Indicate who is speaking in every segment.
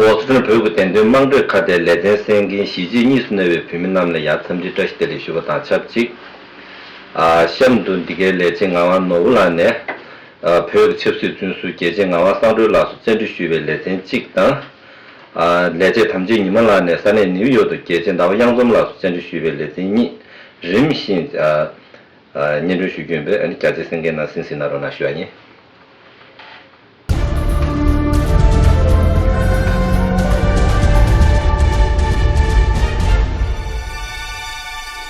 Speaker 1: པོ་སི་ཁྲོན་བོད་ཁུལ་བདེན་དོན་དམངས་ཁྲོད་ཁ་བརྡའི་ལས་དོན་གསན་མཁན་གཞིས་བྱེས་གཉིས་སུ་གནས་པའི་བོད་མི་རྣམས་ལ་ཡང་འཚམས་འདྲི་བཀྲ་ཤིས་བདེ་ལེགས་ཞུ་བ་དང་ཆབས་ཅིག་གཤམ་དུ་འདི་གའི་ལས་བྱེད་ངག་དབང་ནོར་བུ་ལགས་ནས། བོད་ཀྱི་ཆབ་སྲིད་བཙོན་ཟུར་རྒྱལ་གཅེས་ངག་དབང་བསམ་འགྲུལ་ལགས་སུ་བཅར་འདྲི་ཞུས་པའི་ལེ་ཚན་གཅིག་དང། ལས་བྱེད་དམ་ཆོས་ཉི་མ་ལགས་ནས་ས་གནས་ནིའུ་ཡོག་ཏུ་རྒྱལ་ཆེན་ཟླ་བ་གཡང་འཛོམས་ལགས་སུ་བཙན་འཁྲིད་ཞུས་པའི་ལེ་ཚན་གཉིས་རིམ་བཞིན་སྙན་སྒྲོན་ཞུ་རྒྱུ་ཡིན་པས་རྒྱ་ཆེའི་སེམས་འགན་ནང་སིན་སིན་ན་རོ་ན་ཞུ་བ་ཡིན།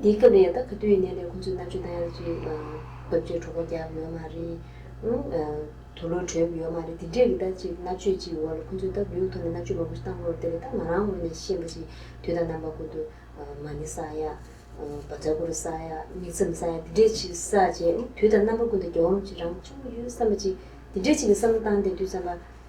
Speaker 2: འདི་སྐབས་ནས་ད་ག་དུས་ནས་ལས་ཁུ་ཚུར་ནག་ཆུ་དང་ཡང་ལ་ཆུའི་འདབས་ཆུ་གྲོགས་པོ་རྒྱབ་ཡོད་མ་རེད། དུ་ལུ་གྲོད་ཡོད་མ་རེད་དེ་འདྲས་ཀྱི་ད་ཅིག་ནག་ཆུའི་ཅིག་འོག་ལ་ཁུ་ཚུར་ད་བུའི་ཐོག་ནས་ནག་ཆུ་མ་བུར་བཏང་ལོར་དེ་ལས་ད་ང་རང་ངོས་ནས་ཤེས་པ་ཞིག་དུས་ད་ནམ་པ་ཁུ་དུ་མ་ནི་ས་ཡ། བ་ཚ་ཁུ་རུ་ས་ཡ་མིག་མཚམས་ས་ཡ་དེ་འདྲས་ཅིག་ས་བྱས་དུས་ད་ནམ་པ་ཀུན་ཏུ་རྒྱ་འོམ་ཅིག་རང་བྱུང་གི་ཡོད་བསམ་པ་ཅིག་དེ་འདྲས་ཅིག་གི་བསམ་བློ་བཏང་སྟེ་དུས་ཙམ་པ་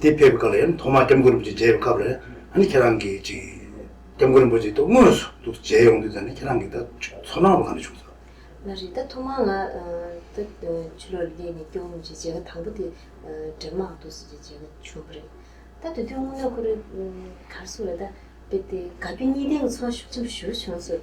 Speaker 3: དེ་ཕེབས་སྐབས་ལས་ཐོག་མར་སྐྱབས་མགོན་རིན་པོ་ཆེ་མཇལ་བའི་སྐབས་ལས་ནི་ཁྱེད་རང་གིས་ཅིག་སྐྱབས་མགོན་རིན་པོ་ཆེ་ཐུགས་དངོས་སུ་འདུག་མཇལ་ཡོང་དུས་ད་ནི་ཁྱེད་རང་གི་ད་ཚོར་སྣང་བ་གང་འདྲ་བྱུང་སོང། མ་རེད་ད་ཐོག་མར་
Speaker 2: ང་ད་ཆུ་ལོག་ལས་ནས་སྐྱོང་ངོ་ཅིག་མཇལ་ཁ་དང་པོ་དེ་འདྲེ་མང་འདུག་ཟེར་ཅིག་མཇལ་ཁ་བྱུང་བ་རེད། ད་དུས་རྒྱུན་སྔོན་མ་ཁོ་རེ་གར་སོང་བས་ད་ཕེབས་ཏེ་དགའ་སྐྱོ་གཉིས་ལྡན་གྱི་ཚོར་བ་ཤུགས་ཆེན་པོ་ཞུ་རུ་བྱུང་སོང།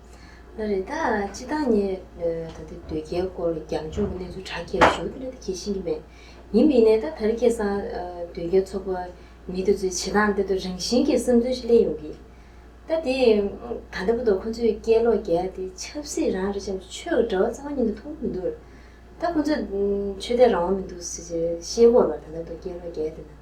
Speaker 3: ལ་རེ་ད་
Speaker 2: ཅི་ད་ངས་ད་ལྟ་སྡོད་རྒྱའི་སྐོར་རྒྱང་སྦྱོར་གྱི་གནས་ཚུལ་དྲ་རྒྱའི་གཞུང་དེ་ལ་ད་གྱེས་ཤིང་གྱི་མེད། ཡིན་པའི་ནས་ད་ད་རེ་ཁེ་སང་སྡོད་རྒྱ་ཚོགས་པ་མི་དེ་ཚོའི་བྱེད་སྟངས་དེ་ད་རང་བཞིན་གྱི་བསམ་ཚུལ་ཞིག་སླེ་ཡོང་གི། ད་དེ་ད་ལྟ་བུ་ད་ཁོ་ཚོས་སྐད་ལོག་རྒྱ་དེ་ཆབ་སྲིད་རང་རེ་ཆབ་ཆོས་ཀྱི་དྲ་བ་ཚང་མ་ཉིན་དུ་མཐོང་གི་མི་འདུག་ལ། ད་ཁོ་ཚོས་ཆོས་དད་རང་དབང་མི་འདུག་ཟེར་ཞེས་ཤེས་དགོས་པར་ད་ལྟ་ད་སྐད་ལོག་རྒྱ་དེ་ན་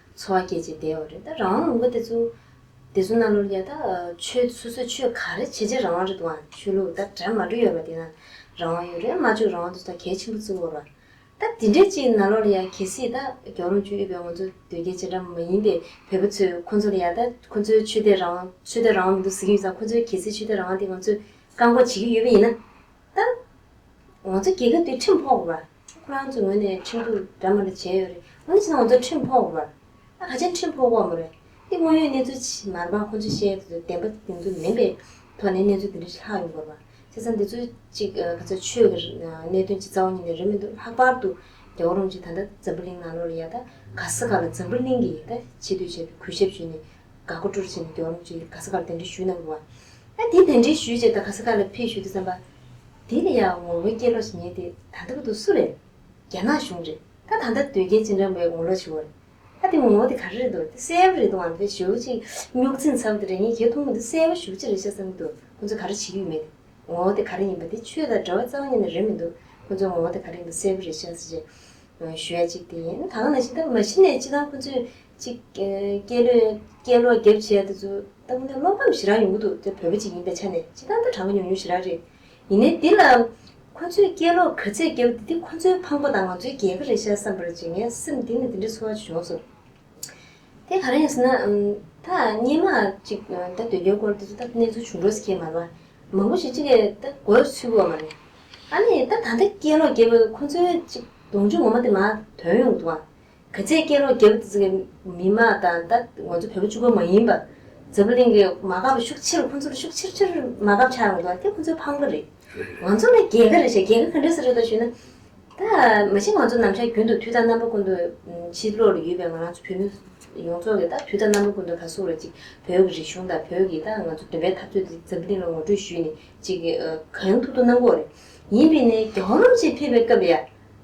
Speaker 2: འཚོ་བ་སྐྱེལ་བྱེད་དེའོ་རེད་ད་རང་དབང་ལུང་པ་དེ་ཚོ། དེ་ཚོ་རྣམས་ལོར་ཡ་ད་ཆོས་སོ་སོས་ཆོས་ག་རེ་བྱེད་བྱེད་རང་དབང་རེད་འདུག་ཨང་ཆོས་ལུགས་ད་གྲ་མ་འགྲོ་ཡོད་པ་དེ་ན་རང་དབང་ཡོད་རེད་མ་བཅོས་རང་དབང་དེ་ཚོ་ད་གལ་ཆེན་པོ་བརྩི་དགོས་ར། ད་དེ་འདྲའི་ཅིག་ན་ལོར་ཡ་གལ་སྲིད་ད་རྒྱ་རོམ་ཆོས་དབྱུག་པའི་ང་ཚོ་དོལ་རྒྱལ་བྱེད་འདྲ་མ་ཡིན་པའི་བོད་པ་ཚོས་ཁོ་ཚོ་ལ་ཡ་ད་ཁོ་ཚོའི་ཆོས་དད་རང་དབང་ཆོས་དད་རང་དབང་མི་འདུག་ཟེར་གྱི་ཡོད་ཙང་ཁོ་ཚོའི་གལ་སྲིད་ཆོས་དད་རང་དབང་དེ་ང་ཚོས་བཀག་འགོག་བྱེད་ཀྱི་ཡོད་པ་ཡིན་ན། ད་ང་ཚོ་རྒྱལ་ཁབ་དེ་ཁྲིམས་ཕོག་པ་རེད། ཁོ་རང་ཚོའི་ངོས་ནས་ཁྲིམས་གཏུག་འདྲ་མོ་རེ་བྱས་ཡོད་རེད། འོན་ཀྱང་ང་ཚོ་ཁྲིམས་ཕོག་པ་རེད། ད་ག་ཅན་ཁྲིམས་ཕོག་པ་མོ་རེད། འདི་དངོས་ཡོད་གནས་ཚུལ་ཕྱི་མར་འབངས་ཁོ་ཚོས་བཤད་ཡོད་དུས་བདེན་པ་དེ་ཚོ་མིན་པའི་ཐོག་ནས་གནས་ཚུལ་དེ་འདྲ་ཞིག་ལྷག་ཡོང་དགོས་པ། བྱས་ཙང་འདི་ཚོ་གཅིག་ག་ཚོད་ཆོས་ཀྱི་གནད་དོན་གྱི་རྩ་བ་ཉིད་ནས་རེད་མི་འདུག་ལྷག་པར་དུ་རྒྱ་གོ་རོང་གཅིག་ད་ལྟ་འཛམ་བུ་གླིང་ནང་ལོགས་ལ་ཡལ་ད་ག་ས་ག་ལ་འཛམ་བུ་གླིང་གི་ཡལ་ད་བྱེད་དུས་བྱས་ཏེ་གུས་ཞབས་ཞུས་ནས་དགའ་མགུ་སྤྲོ་རུ་བྱས་ནས་རྒྱོགས་རོགས་ཅེས་ག་ས་གར་གདན་འདྲེན་ཞུས་གནང་འདུག་བ། དེ་གདན་འདྲེན་ཞུས་རྗེས་ད་ག་ས་ག་ལ་ཕེབས་ཞུས་འདུག་བསམ་པ། དེ་ནི་ཡང་ངོ་ངོའི་སྐྱེས་ལོ་ཞིག་ཉལ་ཏེ་ད་ལྟ་བུ་དོ་སུ་རེད། རྒྱ་ནག་གཞུང་རེད་ད་ད་ལྟ་དོལ་རྒྱལ་སྤྱི་འགྲམ་བའི་ངོ་ལོག་ཆུ་བོ་རེད། ད་དེ་ངོ་ངོ་དེ་ག་རེ་རེད་འདུག་དེ་གསལ་བོ་རེད་འདུག་ཨང་དེ་བཞུགས་གཅིག་སྨྱུག་འཛིན་ཚ་བོ་དེ་རེད་ངས་ཁྱེད་མཐོང་མི་འདུག་གསལ་བོ་བཞུགས་གཅིག་རེད་ཤ་ཚ་མི་འདུག་ཁོ་ཚོས་ག་རེ་བྱེད་ཀྱི་ཡོད་མེད་དེ། ངོ་ངོ་དེ་ག་རེ་ཡིན་པ་དེ་ཆོས་དང་འདྲ་བ་རྩ་བ་ཉིད་ནས་རེད་མི་འདུག་ཁོ་ཚོས་ངོ་ངོ་དེ་ག་རེ་ཡིན་པ་གསལ་བོ་རེད་ཤ་ཚ་ཅེས་ཞུ་ཡ་གཅིག་དེ་ཡིན་ད་ག་ནང་བཞིན་ད་མ་གཞི་ནས་སྤྱི་བཏང་ཁོ་ཚོས་གཅིག། སྐྱེས་ལོས་སྐྱེས་ལོ་རྒྱབ་བྱེད་དེ་ཚོ་ལྟ་བུ་ན་བློ་ཕམ་ཞེ་དྲག་ཡོང་གི་འདུག་དེ་བོད་པ་ཅིག་ཡིན་པའི་ཆ་ནས་ཅི་ལྟར་འདའ་དྲག་གི་མྱོང་མྱོང་ཞེ་དྲག་རེད། ཡིན་ནའི་འདི་ལ། ཁོ་ཚོས་སྐྱེས་ལོ་ག་ཚད་རྒྱབ་དེ་དེ་ཁོ་ཚོའི་ཕངས་པོ་དང་ང་ཚོའི་རྒྱལ་ཁ་རེད་ཤག་བསམ་པར་བྱེད་ངའི་སེམས་འདི་ནས་འདི་འདྲའི་ཚོར་བ་བྱུང་སོང། དེ་ག་རང་ཡིན་ཟེར་ན། ད་སྙན་མ་ཅིག་ད་སྡོད་རྒྱའི་སྐོར་དེ་ཚོ་ད་གནས་ཚུལ་བྱུང་འགྲོ་ཟེར་ཁྱེད་མ་ལ་མང་པོ་ཞིག་ཅི་ལས་ད་དགོས་ཚུལ་བུ་བ་མ་རེད། ཨ་ནི་ད་ད་ལྟ་སྐྱེས་ལོ་རྒྱབ་ཁོ་ཚོའི་ཅིག་གདོང་མཆོང་ངོ་མ་དེ་མ་དོན་ཡོང་གི་འདུག་ཨང། ག་ཚད་སྐྱེ་རོགས་རྒྱབ་ཚིག་གི་མི་དམངས་དང་ད་ང་ཚོ་བོད་པ་བཅུ་པོ་མ་ཡིན་པ་འཛམ་བུ་གླིང་གི་མ་འགག་པ་ཤུགས་ཆེ་རུ་ཁོང་ཚོ་ལ་ཤུགས་ཆེ་ཆེར་མ་འགག་ཆགས་ཡོང་དོ་དེ་ཁོང་ཚོའི་ཕམ་ཁ་རེད། ང་ཚོ་ལ་རྒྱལ་ཁ་རེད་བཤད་རྒྱལ་ཁ་ག་འདྲ་ས་རེད་དོ་ཞུས་ན། ད་མ་གཞི་ང་ཚོ་ནམ་ཞར་རྒྱུན་དུ་དུས་དང་རྣམ་པ་ཀུན་ཏུ་ཕྱི་ལོག་ལ་ཡོད་པའི་ང་རང་ཚོ་བོད་མི་ཡོངས་རྫོགས་ཀྱི་ད་དུས་དང་རྣམ་པ་ཀུན་ཏུ་ལྷ་སྲུང་རེད་ཅིག་བོད་ཀྱི་རིག་གཞུང་དང་བོད་ཀྱི་ད་ང་ཚོ་འདོན་པའི་འཐབ་རྩོད་འདི་འཛམ་བུ་གླིང་ལ་ངོ་སྤྲོད་ཞུས་ནས་ཅིག་གང་ཐུབ་ཐུབ་གནང་དགོས་རེད། ཡིན་པས་ནས་རྒྱ་ཧོར་ལམ་ཆེད་ཕེབས་པའི་སྐབས་ཡ།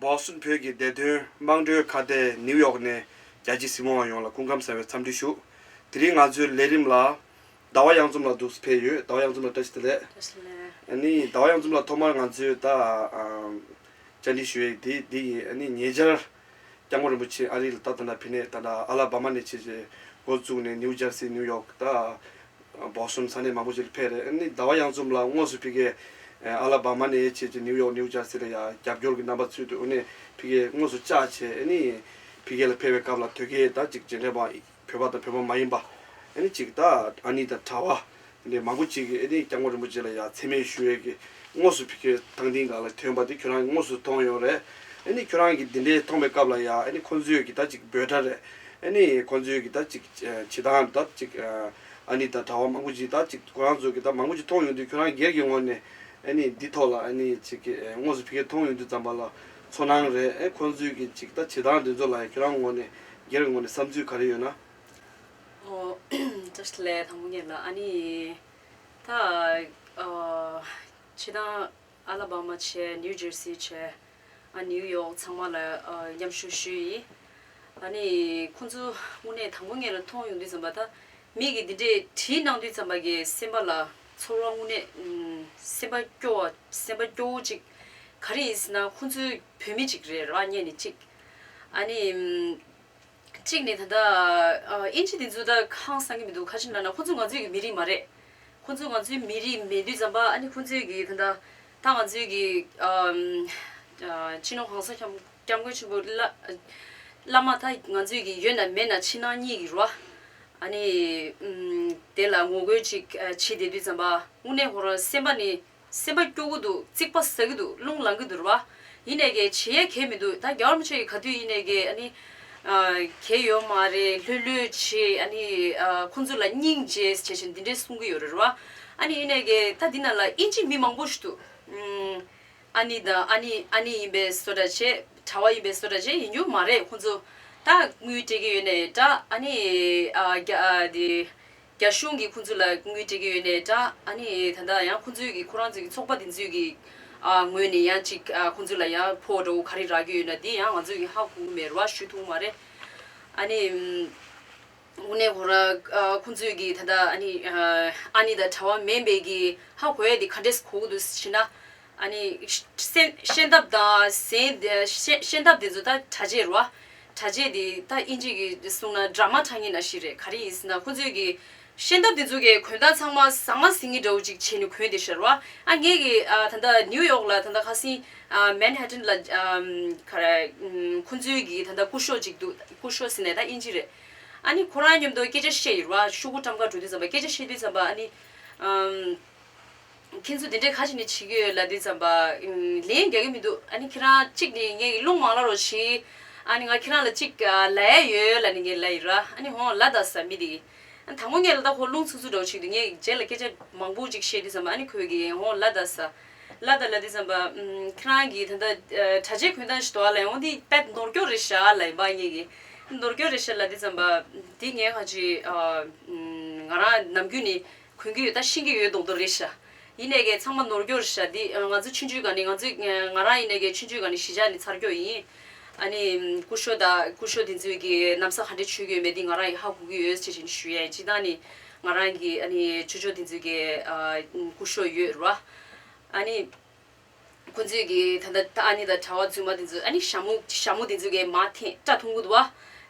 Speaker 4: Boston བོད་ཀྱི་བདེ་དོན་དམངས་གྲོས་ཁ་གཏད་ནིའུ་ཡོག་ནས་རྒྱ་ཆེའི་སྲིད་དབང་བ་ཡོངས་ལ་སྐུ་ཁམས་གསར་བའི་འཚམས་འདྲི་ཞུ། དེ་རིང་ང་ཚོའི་ལས་རིམ་ལ། ཟླ་བ་གཡང་འཛོམས་ལ་འདུག་ཕེབས་ཡོད་ཟླ་བ་གཡང་འཛོམས་ལ་བཀྲ་ཤིས་བདེ་ལེགས། ནི་ཟླ་བ་གཡང་འཛོམས་ལ་ཐོག་མར་ང་ཚོས་ད་བཅར་འདྲི་ཞུ་ཡི་འདི་ཡིན། ཉེ་ཆར། སྐྱབས་མགོན་རིན་པོ་ཆེ་ཨ་རིའི་ལ་དྭགས་དང་ནཱ་ཕི་ནེ་དང་ཨ་ལ་བྷ་མ་ནས་བྱས་རྗེས་འགོ་བཙུགས་ནས་ནིའུ་ཇར་སི་ནིའུ་ཡོག་དང། བོག་སུམ་ས་གནས་མང་པོ་ཞིག་ལ་ཕེབས་རེས་ནི་ཟླ་བ་ཡང་འཛོམས་ལ་དངོས་སུ་ཕི་གའི་ཨ་ལ་བྷ་མ་ནས་བྱས་རྗེས་ནིའུ་ཡོག་ནིའུ་ཇར་སི་ལ་ཡང་རྒྱབ་སྐྱོར་གྱི་རྣམ་པ་ཚུལ་དུ་དབུ་ནས་ཕི་གའི་དངོས་སུ་བཅར་བྱས་ནི་ཕི་གའི་ལ་ཕེབས་པའི་སྐབས་ལ་ཐོད་རྒལ་དང་གཅིག་རྗེས་འབྲེལ་བ། བོད་པ་དང་བོད་པ་མ་ཡིན་པ། ཨནི་ཅིག་ད་ཨ་ནི་དང་གྲྭ་བ། འདི་མང་པོ་ཅིག་གིས་ཨེ་ཏི་སྐྱབས་མགོན་རིན་པོ་ཆེ་ལ་ཡ་མཚན་མེད་ཞུ་ཡས་ཀྱི་དངོས་སུ་ཕི་ཁེ་ཐང་ཏིང་ག་ལ་ཐོན་པ་དེ་ཁྱོད་རང་གི་དངོས་སུ་མཐོང་ཡོད་རེད། ཨནི་ཁྱོད་རང་གིས་འདི་འདྲའི་མཐོང་པའི་སྐབས་ལ་ཡ་ཨནི་ཁོང་ཚོས་ཀྱི་ད་ཅིག་འབོད་སྒྲ་རེད། ཨནི་ཁོང་ཚོས་ཀྱི་ད་ཅིག་བྱེད་སྟངས་ད་ཅིག་ཨ་ནི་དང་གྲྭ་བ་མང་པོ་ཅིག་ད་ཅིག་ཁོ་རང་ཚོ་ཀྱི་ད་མང་པོ་ཅིག་མཐོང་ཡོང་དུས་ཁྱོད་རང་སྒེར་གྱི་ངོ་ནས་ཨནི་འདི་ཐོག་ལ་ཨནི་ཅིག་གི་དངོས་སུ་ཕི་ཁེ་མཐོང་ཡོང་དུས་ཙམ་པ་ལ་ཚོར་སྣང་རེད། ཨེ་ཁོང་ཚོས་ཀྱི་ཅིག་ད་བྱེད་སྟངས་འདི་ཚོ་ལ་ཡ་ཁྱོད་རང་ངོ་ནས་སྒེར་གྱི་ངོས་ནས་བསམ་ཚུལ་ག་རེ་ཡོད་ན།
Speaker 5: Just ལས་དང་པོ་ངེས་ལ་ཨ་ནི་ད་ཕྱི་དང་ཨ་ལ་བ་མ་བྱས་ནིའུ་ཇེར་སི་བྱས་ཨ་ནིའུ་ཡོག་ཚང་མ་ལ་མཉམ་ཞུགས་ཞུ་ཡིན་ཨ་ནི་ཁོང་ཚོ་དངོས་གནས་དང་པོ་ངེས་ལ་མཐོང་ཡོང་དུས་ཙམ་པ་ད་མིག་གིས་འདི་འདྲས་བྲིས་གནང་དུས་ཙམ་པ་གི་སེམས་པ་ལ་ཚོར་བ་དངོས་གནས་སེམས་པ་སྐྱོ་བ་སེམས་པ་སྐྱོ་བོ་ཅིག་ག་རེ་ཡིན་ཟེར་ན་ཁོང་ཚོའི་བུད་མེད་ཅིག་རེད་ར་བརྙན་ནི་གཅིག། གཅིག་ནས་ད་ལྟ་ཨིན་ཇི་དེ་ཚོ་ད་ཁང་བཟང་གི་མི་འདུག་ཁ་ཆེམས་ན་ན་ཁོ་ཚོ་ང་ཚོའི་གི་མི་རིགས་མ་རེད། ཁོ་ཚོ་ང་ཚོའི་མི་རིགས་མེད་དུས་ཙམ་པ་ཨ་ནི་ཁོ་ཚོའི་གི་ད་ལྟ་ད་ང་ཚོའི་གི་སྤྱི་ནོར་གང་ས་ཁྱམས་སྐྱབས་མགོན་ཆེན་པོ་བླ་མ་ད་ང་ཚོའི་གི་ཡོད་ན་མེད་ན་ཕྱི་ནང་གཉིས་གི་རུ་ཨ་ནི་དེ་ལ་ངོ་རྒོལ་ཅིག་བྱེད་བསྡད་དུས་ཙམ་པ་དངོས་གནས་ཧོ་རང་སེམས་པ་ནི་སེམས་པ་སྐྱོ་གི་འདུག་ཙིག་པ་ཟ་གི་འདུག་རླུང་ལང་གི་འདུར་བ། ཡིན་ནས་གས་བྱེད་ཡས་གས་མི་འདུག་ད་རྒྱ་བར་མི་ཆོས་ཀྱི་ག་དུས་ཡིན་ནས་གས་ཨ་ནི། གས་ཡོད་མ་རེད་ལྷོད་ལྷོད་བྱེད་ཨ་ནི། ཁོང་ཚོ་ལ་སྙིང་རྗེ་བྱེད་བཞིན་འདི་འདྲས་གསུང་གི་ཡོད་རེད་ར་བ། ཨ་ནི་ཡིན་ནས་གས་ད་འདི་ན་ལ་ཨིན་ཇིའི་མི་མང་པོ་ཞིག་འདུག། ཨ་ནི་དང་ཨ་ནི་ཨ་ནི་ཡིན་པས་བཟོ་འདྲ་བྱེད། གྲྭ་བ་ཡིན་པས་བཟོ་འདྲ་བྱེད་ཡིན་རྒྱུ་མ་རེད་ཁོང་ཚོ། ད་དངུལ་སྤྲད་ཀྱི་ཡོད་ནས་འདྲ་ཨ་ནི། རྒྱ་དེ། རྒྱ་གཞུང་གིས་ཁོང་ཚོ་ལ་དངུལ་སྤྲད་ཀྱི་ཡོད་ནས་འདྲ་ཨ་ནི་ད་ལྟ་ཡང་ཁོང་ཚོའི་གི་ཁོ་རང་ཚོའི་གི་ཚོགས་པ་དེ་ཚོའི་གི་ངོས་ནས་ཡང་ཅིག་ཁོང་ཚོ་ལ་ཡང་ཕོ་བྲོ་ག་རེ་རག་གི་ཡོད་ན་དེ་ཡང་ང་ཚོས་གི་ཧ་གོ་མེད་རོ་ཨ་ཞུ་ཐུང་མ་རེད། ཨ་ནི་དབུ་ནས་གོ་ར་ཁོང་ཚོའི་གི་ད་ལྟ་ཨ་ནི་ཨ་ནི་ད་གྲྭ་བ་མེན་པའི་གི་ཧ་གོ་ཡ་དེ་ག་འདྲས་གོ་གི་འདུག་ཤེ་ན། ཤེས་འདབ་དེ་ཚོ་ད་གྲ་རྗེས་རོ། གྲ་རྗེས་དེ་ད་ཨིན་ཇི་གི་གསུང་ན་འདྲ་མ་འདྲ་ངེས་ན་ཞིག་རེད་ག་རེ་ཡིན་ཟེར་ན་ཁོ་ཚོས་ཀྱི། ཤེས་འདབ་དེ་ཚོ་གི་གོན་སྟངས་ཚང་མ་ཟང་མ་ཟིང་ངེ་འདྲ་བོ་ཅིག་བྱས་ནས་གོན་ཏེ་ཤར་བ། ཨ་ངེས་ཀྱི་ད་ལྟ་ནིའུ་ཡོག་ལ་ད་ལྟ་ཁ་སིང། Manhattan། ལ་ག་རེ་ཁོ་ཚོའི་ཀྱི་ད་ལྟ་སྐུ་ཤོག་ཅིག་འདུག་སྐུ་ཤོག་ཟེར་ན་ད་ཨིན་ཇི་རེད། ཨ་ནི་ཁོ་རང་སྙམ་དུ་སྐད་ཆ་བཤད་ཡོད་རེད་བ་ཤོག་བུ་ཀྲམ་ཀ་འགྲོ་དུས་ཙམ་པ་སྐད་ཆ་བཤད་དུས་ཙམ་པ་ཨ་ནི། ཁྱེད་ཚོ་དེ་འདྲའི་ཁ་ཞིག་ནས་བྱེད་ཀྱི་ཡོད་ལ་འདི་ཙམ་པ། ལན་རྒྱག་གི་མི་འདུག་ཨ་ནི་ཁྱེད་རང་གཅིག་ནི་ངའི་གླུ་མང་ལ་རོགས་བྱེད། ཨ་ནི་ང་ཁྱེད་རང་ལ་གཅིག་ལ་ཡ་ཡོད་ལ་ནི་ངའི་ལ་ཡི་ར་ཨ་ནི་ཧོང་ལ་ད་ས་མི་འདི། ད་ངོ་ངས་ལ་ད་ཧོ་རླུང་ཚུགས་ཚུགས་འདྲ་བོ་བྱེད་འདུག་ངས་རྗེས་ལ་སྐད་ཆ་མང་པོ་གཅིག་བཤད་འདི་ཙམ་པ་ཨ་ནི་ཁོས་ཀྱིས་ཧོང་ལ་ད་ས། ལ་ད་ལ་འདི་ཙམ་པ། ཁྱེད་རང་གིས་ད་ལྟ་དྲ་རྒྱའི་གོན་སྟངས་ཞིག་དོར་བ་ལ་ཡང་འོང་འདི་དཔེ་མདོར་སྐྱོར་རེད་བྱ་ལ་ཡིན་པ་ངས་ཀྱིས་མདོར་སྐྱོར་རེད་བྱ་ལ་འདི་ཙམ་པ། འདི་ངས་ཁ་ཅིག་ང་རང་ནམ་རྒྱུན་ནི་གོན་གྱི་ཡོད་ད་ཤེས་ཀྱི་ཡོད་རྡོག་རྡོག་རེད་ཤ་ཡིན་ནས་གས་ཚང་མ་ནོར་འགྱོར་ཤ་འདི་ང་ཚོའི་ཆུ་འཇུས་ག་ནི་ང་ཚོའི་ང་རང་ཡིན་ནས་གས་ཆུ་འཇུས་ག་ནི་གཞི་ཆགས་ནི་ཚར་འགྱོག་ཡིན་ཨ་ནི་ཀུ་ཤོ་ད་ཀུ་ཤོ་དེ་ཚོས་གི་གནམ་ས་ག་འདྲེ་ཆུས་གི་ཡོད་མེད་འདི་ང་རང་ཡིས་ཧ་གོ་གི་ཡོད་ཅེས་བྱས་ནི་ཞུ་ཡས་སྤྱི་དང་ནི་ང་རང་གི་ཨ་ནི་ཆུ་ཆོ་དེ་ཚོས་གི་ཀུ་ཤོ་ཡོད་རུ་ཨ་ནི། ཁོ་ཚོས་ཀྱི་ད་ལྟ་ད་ཨ་ནི་ད་གྲྭ་བ་ཚོས་མ་དེ་ཚོས་ཨ་ནི་ཞྭ་མོ་ཞྭ་མོ་དེ་ཚོས་ཀྱི་མ་འཐེན་བཀྲ་མཐོང་གི་འདུག་བ།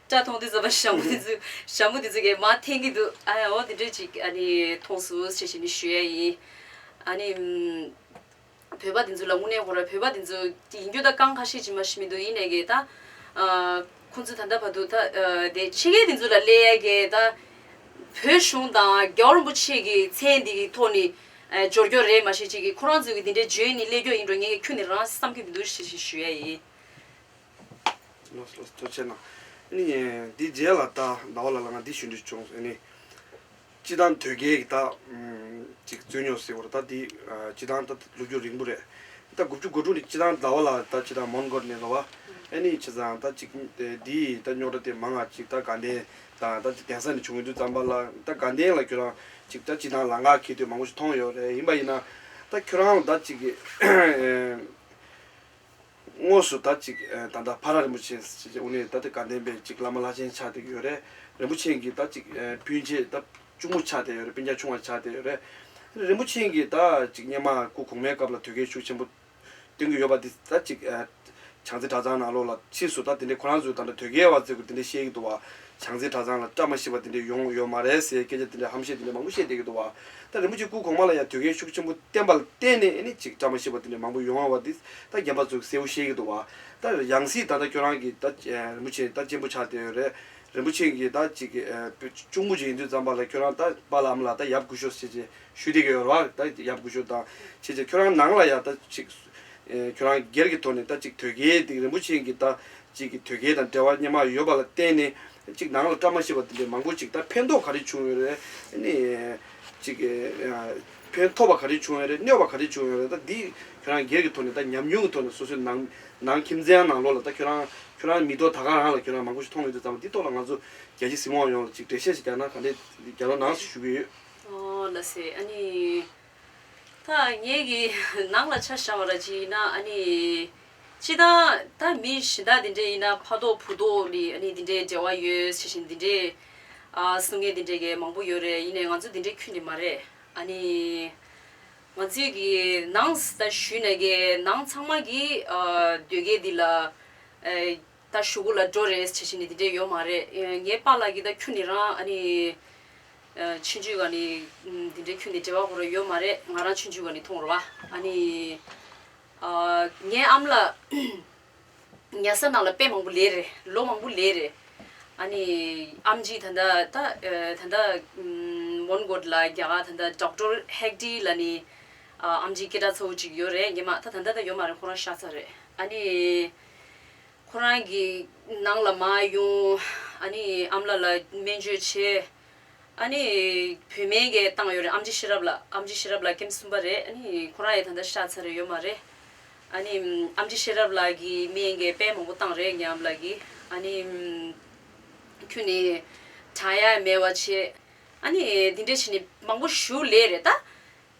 Speaker 5: བཀྲ་མཐོང་དུས་བཟའ་བ་ཞྭ་མོ་དེ་ཚོས་ཞྭ་མོ་དེ་ཚོས་ཀྱི་མ་འཐེན་གི་འདུག་ཨ་ཨོ་དེ་འདྲས་ཅིག་ཨ་ནི་མཐོང་སོ་ཞེས་བཤད་ནི་ཞུ་ཡ་ཡིན། ཨ་ནི། བོད་པ་དེ་ཚོ་ལ་དངོས་གནས་ཧོ་ར་བོད་པ་དེ་ཚོ་ཡིན་རྒྱུ་ད་གང་ཁ་ཤས་ཀྱི་མ་ཤི་མི་འདུག་ཡིན་ནའི་གི་ད། ཁོང་ཚོས་ད་ལྟ་བར་དུ་ད་ལྟའི་ཕྱི་རྒྱལ་དེ་ཚོ་ལ་སླེལ་རྒྱའི་ད་བོད་གཞུང་དང་རྒྱ་རིན་པོ་ཆེ་གི་མཚན་འདི་གི་ཐོག་ནས་སྦྱོར་སྐྱོར་རེད་མ་ཤེས་ཅིག་གི་ཁོ་རང་ཚོས་གི་འདི་འདྲའི་བརྗོད་ནི་སླེལ་སྐྱོར་ཡིན་འགྲོ་ངེས་གི་ཁྱོད་ནི་རང་བསམ་གི་མི་འདུག་ཞེས་ཞེས་ཞུ་ཡ་ཡིན། ལོ་
Speaker 4: ལོ་ལོ་ཐོ་ཆེ་ན། ཨ་ནི། འདི་རྗེས་ལ་ད་ཟླ་བ་ལ་ལ་ང་འདི་ཞུ་འདྲི་བྱུང། ཨ་ནི། སྤྱི་དང་དོལ་རྒྱལ་གྱི་དག་ཅིག་རྩོད་རྙོག་སེལ་བར་ད་དེ་སྤྱི་དང་ད་ལོ་རྒྱུ་རིང་པོ་རེད། ད་དགུ་བཅུ་དགུ་སྒྲུང་དེ་སྤྱི་དང་ཟླ་བ་ལ་ད་སྤྱི་དང་མོན་གོར་གནས་ལ་བ་ཨེ་ནི་ཆེ་ཙང་ད་ཅིག་འདི་ད་རྙོག་དྲ་དེ་མང་ང་ཅིག་ད་དགའ་ལྡན་དང་ད་ཅིག་གདན་ས་ནས་བྱུང་ཡོད་དུས་ཙམ་པ་ལ་ད་དགའ་ལྡན་ལ་ཁྱོད་རང་ཅིག་ད་སྤྱི་དང་ལ་འགག་འཁེལ་དུས་མང་པོ་ཞིག་མཐོང་ཡོད་རེད་ཡིན་པ་ཡིན་ན་ད་ཁྱོད་རང་ལ་ད་ཅིག། དངོས་སུ་ད་ཅིག་ད་ལྟ་བྷ་ར་རིན་པོ་ཆེ་ཞེས་བྱ་བ་ནི་ད་ལྟ་དགའ་ལྡན་པའི་ཅིག་བླ་མ་ལྷ་ཆེན་ཆགས་བསྡད་ཡོད་རེད། རིན་པོ་ཆེན་གྱིས་ད་ཅིག་སྤུན་མཆེད་ད་གཅུང་མོ་ཆགས་བསྡད་ཡོད་རེད་སྤུན་རྒྱ་ཆུང་བ་ཆགས་བསྡད་ཡོད་རེད། རིན་པོ་ཆེན་གྱིས་ད་ཅིག་སྙེ་མ་སྐུ་གོང་མའི་སྐབས་ལ་དུས་སྐལ་ཤུགས་ཆེན་པོ་སྟོན་གྱི་ཡོད་པ་འདི་ད་ཅིག་བྱང་རྩེ་གྲྭ་ཚང་ནང་ལོགས་ལ་ཕྱིས་སུ་ད་དེ་འདྲའི་ཁོ་རང་ཚོའི་ད་དུས་སྐལ་བ་ཚེ་གུ་འདི་འདྲའི་བཤད་ཀྱི་འདུག་བ་བྱང་རྩེའི་གྲྭ་ཚང་ལ་བཀྲ་མ་ཤིས་པ་དེ་འདྲས་ཡོང་ཡོད་མ་རེད་ཟེར་སྐད་ཆ་དེ་འདྲས་ཧམ་བཤད་དེ་འདྲས་མང་པོ་བཤད་བསྡད་ཀྱི་འདུག་བ། ད་རིན་པོ་ཆེ་སྐུ་གོང་མ་ལ་ཡང་དུས་འགལ་ཤུགས་ཆེན་པོ་བསྟན་པ་ལ་བརྟེན་ནས་ཨེ་ནི་ཅིག་བཀྲ་མ་ཤིས་པ་དེ་འདྲས་མང་པོ་ཡོང་ཡོང་བ་དེ་ད་རྒན་པ་ཚོས་གསལ་བོ་ཤེས་ཀྱི་འདུག་བ། ད་ཡང་སྲིད་ད་ལྟ་ཁྱོད་རང་གིས་ད་རིན་པོ་ཆེ་ད་གཅེན་པོ་ཆགས་བསྡད་ཡོད་རེད། རིན་པོ་ཆེ་གིས་ད་ཅིག་གཅུང་པོ་ཅིག་ཡིན་དུས་ཙམ་པ་ལ་ཁྱོད་རང་ད་པ་ལམ་ལ་ད་ཡབ་དགུ་ཤོག་ཟེར་བྱས་ཞུས་བསྡད་ཀྱི་ཡོད་རེད་བ། ད་ཡབ་དགུ་ཤོག་དང་བྱས་བྱས་ཁྱོད་རང་ནང་ལ་ཡང་ད་ཅིག་ཁྱོད་རང་སྒེར་གྱི་ཐོག་ནས་ད་ཅིག་དོལ་རྒྱལ་དེ་རིན་པོ་ཆེ་གྱི་ད་ཅིག་གི་དོལ་རྒྱལ་དང་འབྲེལ་བ་སྙན་མ་ཡོད་པ་ལ་བརྟེན་ནས་ཅིག་ནང་ལ་བཀྲ་མ་ཤིས་པ་འདི་འདྲའི་མང་པོ་ཅིག་ད་ཕན་ཐོག་ག་རེ་བྱུང་ཡོད་རེད་ནི། ཅིག་ཕན་ཐོག་པ་ག་རེ་བྱུང་ཡོད་རེད་གནོད་པ་ག་རེ་བྱུང་ཡོད་རེད་ད་འདི་ཁྱོད་རང་སྒེར་གྱི་ཐོག་ནས་ད་ཉམས་མྱོང་གི་ཐོག་ནས་སོ་སོའི་ནང་ནང་ཁྱིམ་ཚང་ནང་ལོགས་ལ་ད་ཁྱོད་རང་ཁྱོད་རང་མི་ཐོག་ད་ག་རང་ལ་ཁྱོད་རང་མང་པོ་ཞིག་མཐོང་མི་འདུག་ཙང་མ་འདི་ཐོག་ལ་ང་ཚོ་རྒྱལ་སྤྱི་སྲིད་དབང་ཡོངས་ལ་ཅིག་འགྲེལ་བཤད་ཞིག་རྒྱག་ན་ག་འདྲེ་རྒྱ་ནོར་ནང་སུ་བཞུགས་ཀྱི་ཡོད། ཨོ་ལ་སེ་
Speaker 6: ཨ་ནི། ད་ངེད་ཀྱི་ནང་ལ་ཆ་བཞག་པ་ར་ཅི་ཡིན་ན་ཨ་ནི། ཅི་ལྟར་ད་མི་གཞི་བདག་འདི་འདྲས་ཡིན་ན་ཕ་ཐོག་བུ་ཐོག་ནི་ཨ་ནི་འདི་འདྲས་འབྲེལ་བ་ཡོད་ཟེར་བཞིན་འདི་འདྲས། ཨ་སུ་ངས་འདི་འདྲས་ཀྱི་མང་པོ་ཡོད་རེད་ཡིན་ནས་ང་ཚོ་འདི་འདྲས་ཁྱོད་ཀྱི་མ་རེད་ཨ་ནི། ང་ཚོས་ཀྱི་ནང་ད་ཞུས་ནས་ཀྱི་ནང་ཚང་མ་གྱིས་ཨ་སྡོད་སྐད་འདི་ལ། ད་ཞུ་གུ་ལ་འགྲོ་རེས་བྱེད་བཞིན་ནི་འདི་འདྲས་ཡོད་མ་རེད་ངའི་པ་ལགས་ཀྱིས་ད་ཁྱོད་ནི་རང་ཨ་ནི། ཕྱི་འཇུས་ག་ནི་འདི་འདྲས་ཁྱོད་ནི་བྲེལ་བ་གོ་རེས་ཡོད་མ་རེད་ང་རང་ཕྱི་འཇུས་ག་ནི་ཐོང་རོ་ཨ་ནི། ངའི་ཨམ་ལ། ཉལ་ས་ནང་ལ་དཔེ་མང་པོ་ལས་རེད་ལོ་མང་པོ་ལས་རེད། ཨ་ནི། ཨམ་ཅིག་ད་ད། ད་ད། མོན་གྷོ་ལ་རྒྱ་གར་ད་ད Doctor Hegde ལ་ནི། ཨམ་ཅིག་སྐད་གྲགས་ཚ་བོ་ཅིག་ཡོད་རེད་ངེས་མ་ད་ད་ད་ཡོད་མ་རེད་ཁོ་རང་ཤ་ཚ་རེད་ཨ་ནི། ཁོ་རང་གི་ནང་ལ་མ་ཡོང། ཨ་མ་ལ་ལ་སྨན་བཅོས་བྱེད། བུད་མེད་འགས་བཏང་ཡོད་རེད་ཨམ་ཅི་ཤེས་རབ་ལ། ཨམ་ཅི་ཤེས་རབ་ལ་སྐེམ་གསུམ་པ་རེད། ཁོ་རང་ཡང་ད་ལྟ་ཤ་ཚ་རེད་ཡོད་མ་རེད། ཨམ་ཅི་ཤེས་རབ་ལ་གི་སྨན་འགས་དཔལ་མང་པོ་བཏང་རེད་ངའམ་ལ་གི། ཁྱོད་ནི་བྲང་ཡ་མེད་བ་བྱེད། འདི་འདྲས་བྱས་ནས་མང་པོ་ཞུ་ལེ་རེད་ད།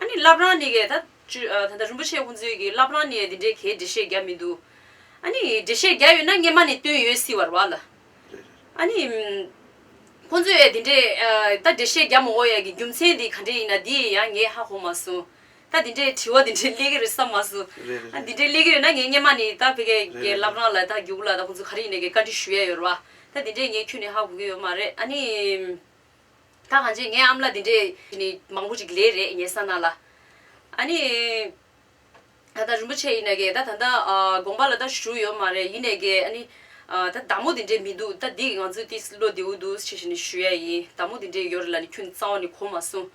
Speaker 6: ཨ་ནི་བླ་བྲང་ནི་གས་ད། ད་ལྟ་རིན་པོ་ཆེ་དབུ་འཛིན་གྱི་བླ་བྲང་ནི་འདི་འདྲའི་གས་འབྲི་བཤད་རྒྱ་མི་འདུག། ཨ་ནི་འབྲི་བཤད་རྒྱ་ཡོད་ན་སྔས་མ་ནི་བཏོན་ཡོད་སྲིད་བར་བ་ལ། ཨ་ནི། ཁོ་ཚོས་འདི་འདྲའི། ད་འབྲི་བཤད་རྒྱ་མོ་འོ་ཡ་གི་རྒྱུ་མཚན་འདི་ག་འདྲས་ཡིན་ན་འདི་ཡང་ངས་ཧ་གོ་མ་སོང། ད་འདི་འདྲའི་དྲི་བ་འདི་འདྲའི་སླེ་གི་རེད་བསམ་མ་སོང། ཨ་འདི་འདྲའི་སླེ་གི་ཡོད་ན་ངས་སྔས་མ་ནི་ད་བྷེ་གས་གས་བླ་བྲང་ལ་ད་རྒྱུགས་ལ་ད་ཁོ་ཚོ་ག་རེ་ཡིན་ནས་གས་བཀའ་འདྲི་ཞུ་ཡ་ཡོད་ར་བ། ད་འདི་འདྲས་ངས་ཁྱོད་ནི་ཧ་གོ་གི་ཡོད་མ་རེད་ཨ་ནི། ད་གང་ཅི་ངའི་ཨམ་ལ་དེ་འདྲས་ནི་མང་པོ་ཅིག་ལས་རེད་ངས་ས་ན་ལ། ཨ་ནི། ད་ད་རིན་པོ་ཆེ་ཡིན་ན་ཀྱེ་ད་ད་ད་དགོངས་པ་ལ་ད་ཞུ་ཡོད་མ་རེད་ཡིན་ནས་ཀྱེ་ཨ་ནི། ད་བདག་མོ་དེ་འདྲས་མི་འདུག་ད་འདི་ང་ཚོས་ཏི་སི་བློ་བདེའུ་འདུག་ཞེས་ཞེས་ནི་ཞུ་ཡ་ཡིན་བདག་མོ་དེ་འདྲས་ཡོད་རེད་ལ་ནི་ཁྱོད་ནི་གཙང་བ་ནི་གོ་མ་སོང།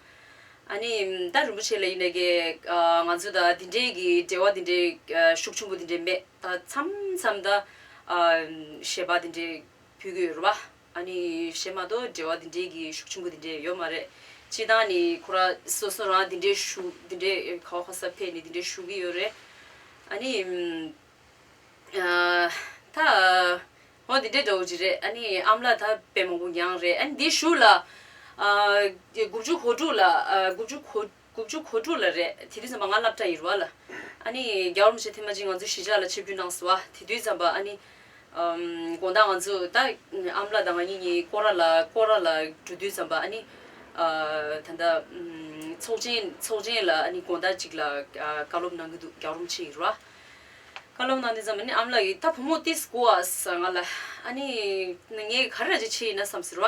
Speaker 6: ཨ་ནི། ད་རིན་པོ་ཆེ་ལ་ཡིན་ནས་ཀྱེ་ང་ཚོས་ད་དེ་འདྲས་ཀྱི་འབྲེལ་བ་དེ་འདྲས་ཤུགས་ཆེན་པོ་དེ་འདྲས་མེད་ད་མཚམས་མཚམས་ད། ཞེས་པ་དེ་འདྲས་ཕུལ་གྱི་ཡོད་རེད་པ། ཨ་ནི་བྱེད་མ་གཏོགས་འབྲེལ་བ་འདི་འདྲའི་གི་ཤུགས་ཆེན་པོ་འདི་འདྲའི་ཡོད་མ་རེད། སྤྱི་དང་ནི་ཁོ་ར་སོ་སོ་རང་འདི་འདྲའི་ཞུགས་འདི་འདྲའི་ཁ་བ་ཁ་ས་ཕས་ནི་འདི་འདྲའི་ཞུགས་གི་ཡོད་རེད། ཨ་ནི། ད། ཧོ་འདི་འདྲའི་འདྲ་བོ་ཅི་རེད་ཨ་ནི་ཨམ་ལགས་ད་དཔེ་མང་པོ་འགྱངས་རེད་ཨ་ནི་འདི་ཞུགས་ལ། དགུ་བཅུ་གོ་དྲུག་ལ་དགུ་བཅུ་གོ། དགུ་བཅུ་གོ་དྲུག་ལ་རེད་དེ་དུས་ཙམ་པ་ང་སླབ་གྲྭ་ཡིར་བ་ལ་ཨཱ་ནི་རྒྱ་བོར་མི་ཆེ་ཐེ་མ་ཅིག་ང་ཚོ་གཞིས་ཆགས་ལ་ཆེ་བརྒྱུད་གནང་སི་བ་དེ་དུས་ཙམ་པ་ཨཱ་ནི་དགོང་དག་ང་ཚོ་ད་ཨམ་ལ་དང་ང་གཉིས་གཉིས་ཀོ་ར་ལ་ཀོ་ར་ལ་འགྲོ་དུས་ཙམ་པ་ཨཱ་ནི་ད་ལྟ་ཚོགས་ཆེན་ཚོགས་ཆེན་ལ་ཨཱ་ནི་དགོང་དག་ཅིག་ལ་བཀའ་སློབ་གནང་གི་འདུག་རྒྱ་བོར་མི་ཆེ་ཡིར་བ་བཀའ་སློབ་གནང་དུས་ཙམ་ཨཱ་ནི་ཨམ་ལ་གིས་ད་བུ་མོ་ཏིས་ཀོ་ཨཱས་ང་ལ་ཨཱ་ནི་ངས་ག་རེ་ར་ཅིག་བྱེད་ཡིན་ན་བསམ་ཟིར་བ་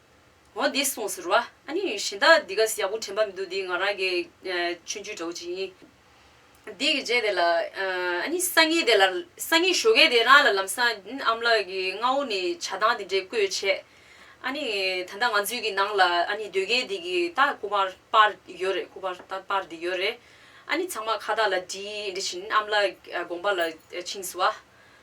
Speaker 6: འོ་འདི་སོང་ཟེར་བ། ཨ་ནི་གཞན་དག་འདི་ག་ཡག་པོ་དྲན་པ་མི་འདུག་འདི་ང་རང་གི་མཆོད་འཇུས་གྲོགས་གཅིག་ཡིན། འདི་གི་རྗེས་དེ་ལ། ཨ་ནི་སང་ཉིན་དེ་ལ། སང་ཉིན་ཞོ་ཁའི་དེ་རང་ལ་ལམ་སང་ཨམ་ལགས་ཀྱིས་རྔ་བོ་ནས་བྱ་ཐང་དེ་འདྲས་བརྐོས་བྱས། ཨ་ནི་ད་ལྟ་ང་ཚོའི་གི་ནང་ལ་ཨ་ནི་སྡོད་མཁན་དེ་གི་ད་ཁུ་པར་པར་ཡོད་རེད་ཁུ་པར་ད་པར་དེ་ཡོད་རེད། ཨ་ནི་ཚང་མ་ཁ་བརྡ་ལ་འདྲིས་འདྲིས་བཞིན་ཨམ་ལགས་དགོངས་པ་ལ་ཕྱིན་སོ།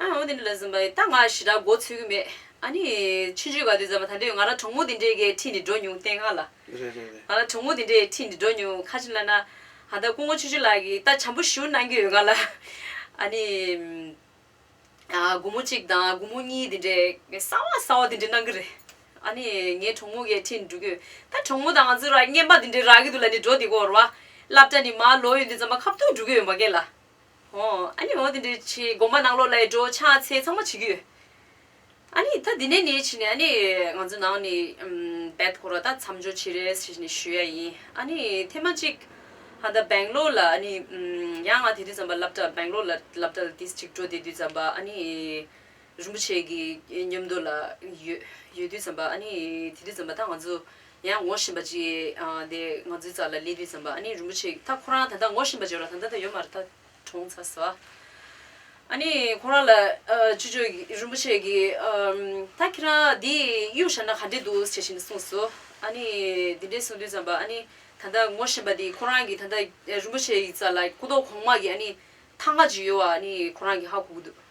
Speaker 6: ཨ་འོ་དེ་འདྲ་ལ་ཟིན་པ་ཡིན་ད་ང་ཞི་དྲག་འགོ་ཚུགས་ཀྱི་མེད་ཨ་ནི། ཕྱི་མཆོད་ག་དུས་མཛད་པ་ད་དུས་ང་རང་གྲོགས་མོ་དེ་འདྲའི་གའི་འཁྲིས་ནས་འགྲོ་མྱོང་བསྟན་ཁ་ལ། རེད་རེད་རེད། ང་རང་གྲོགས་
Speaker 4: མོ་དེ་འདྲའི་
Speaker 6: འཁྲིས་ནས་འགྲོ་མྱོང་ཁ་ཅིག་ལ་ན། ད་ལྟ་སྐུ་ངོ་ཆོས་ཆོས་ལགས་ཀྱིས་ད་བྱམས་པོ་ཞུ་གནང་གི་ཡོད་ག་ལ། ཨ་ནི། དགུང་མོ་གཅིག་དང་དགུང་མོ་གཉིས་དེ་འདྲའི་གསང་བ་གསང་བ་དེ་འདྲ་གནང་གི་རེད། ཨ་ནི། ངའི་གྲོགས་མོ་གའི་འཁྲིས་ནས་འགྲོ་གི་ཡོད་ད་གྲོགས་མོ་དང་ང་ཚོ་ར་བརྙན་པ་དེ་འདྲའི་རག་གི་འདུག་ལ་ནི་འགྲོ་དེ་གོ་རོ། བསླབ་གྲྭ་ནི་མར་ལོག་ཡོད་འདི་མཛངས་པ་ཁ་བརྡུང་འགྲོ་གི་ཡོད་མ་ཀེ་ལ། ཨོ། ཨ་ནི་འོ་དེ་འདྲའི་ཆེ་དགོངས་པ་གནང་ལོ་ལས་འགྲོ་ཕྱག་འཚལ་ཚང་མ་བྱེད་ཀྱི་ཡོད། ཨ་ནི་ད་འདི་ནས་ནས་ཕྱིན་ནས་ཨ་ནི་ང་ཚོ་ནང་ནས་འབད་འཐོར་བ་དག་མཚམས་འཇོག་བྱེད་རེས་ཞེས་ནས་ཞུ་ཡ་ཡིན། ཨ་ནི་ཐེངས་མ་གཅིག་ཧ་ད་བེང་ལོར་ལ་ཨ་ནི་ཡང་ང་དེ་དུས་ཙམ་པ་བསླབ་གྲྭ་བེང་ལོར་ལ་བསླབ་གྲྭ་ལ་དེ་གཅིག་འགྲོ་དེ་དུས་ཙམ་པ་ཨ་ནི་རིན་པོ་ཆེ་གི་མཉམ་དུ་ལ་ཡོད་ཡོད་དུས་ཙམ་པ་ཨ་ནི་དེ་དུས་ཙམ་པ་ད་ང་ཚོ་ཡང་ངོ་བཞིན་པ་ཅིག་དེ་ང་ཚོའི་རྩ་ལ་ལེ་དུས་ཙམ་པ་ཨ་ནི་རིན་པོ་ཆེ་ད་ཁོ་རང་ད་ལྟ་ངོ་བཞིན་པ་ཅིག་ར་ད་ད་ད་ཡོད་མ་རེད་ད་གྲོངས་ཚར་ཟེར་བ། ཨ་ནི་ཁོ་རང་ལ་ཆུ་ཆོས་རིན་པོ་ཆེ་གིས་ད་ཁྱེད་རང་འདི་གཡུག་བཞག་ན་ག་འདྲས་འདུག་ཇི་བཞིན་གསུངས་སོ། ཨ་ནི་དེ་འདྲས་གསུངས་དུས་ཙམ་པ་ཨ་ནི་ད་ལྟ་ངོ་བཞིན་པ་དེ་ཁོ་རང་གིས་ད་ལྟ་རིན་པོ་ཆེ་ཡི་རྩ་ལ་སྐུ་མདོག་གོང་མ་གི་ཨ་ནི་ཐག་ང་ཅིག་ཡོད་བ་ཨ་ནི་ཁོ་རང་གིས་ཧ་གོ་གི་འདུག།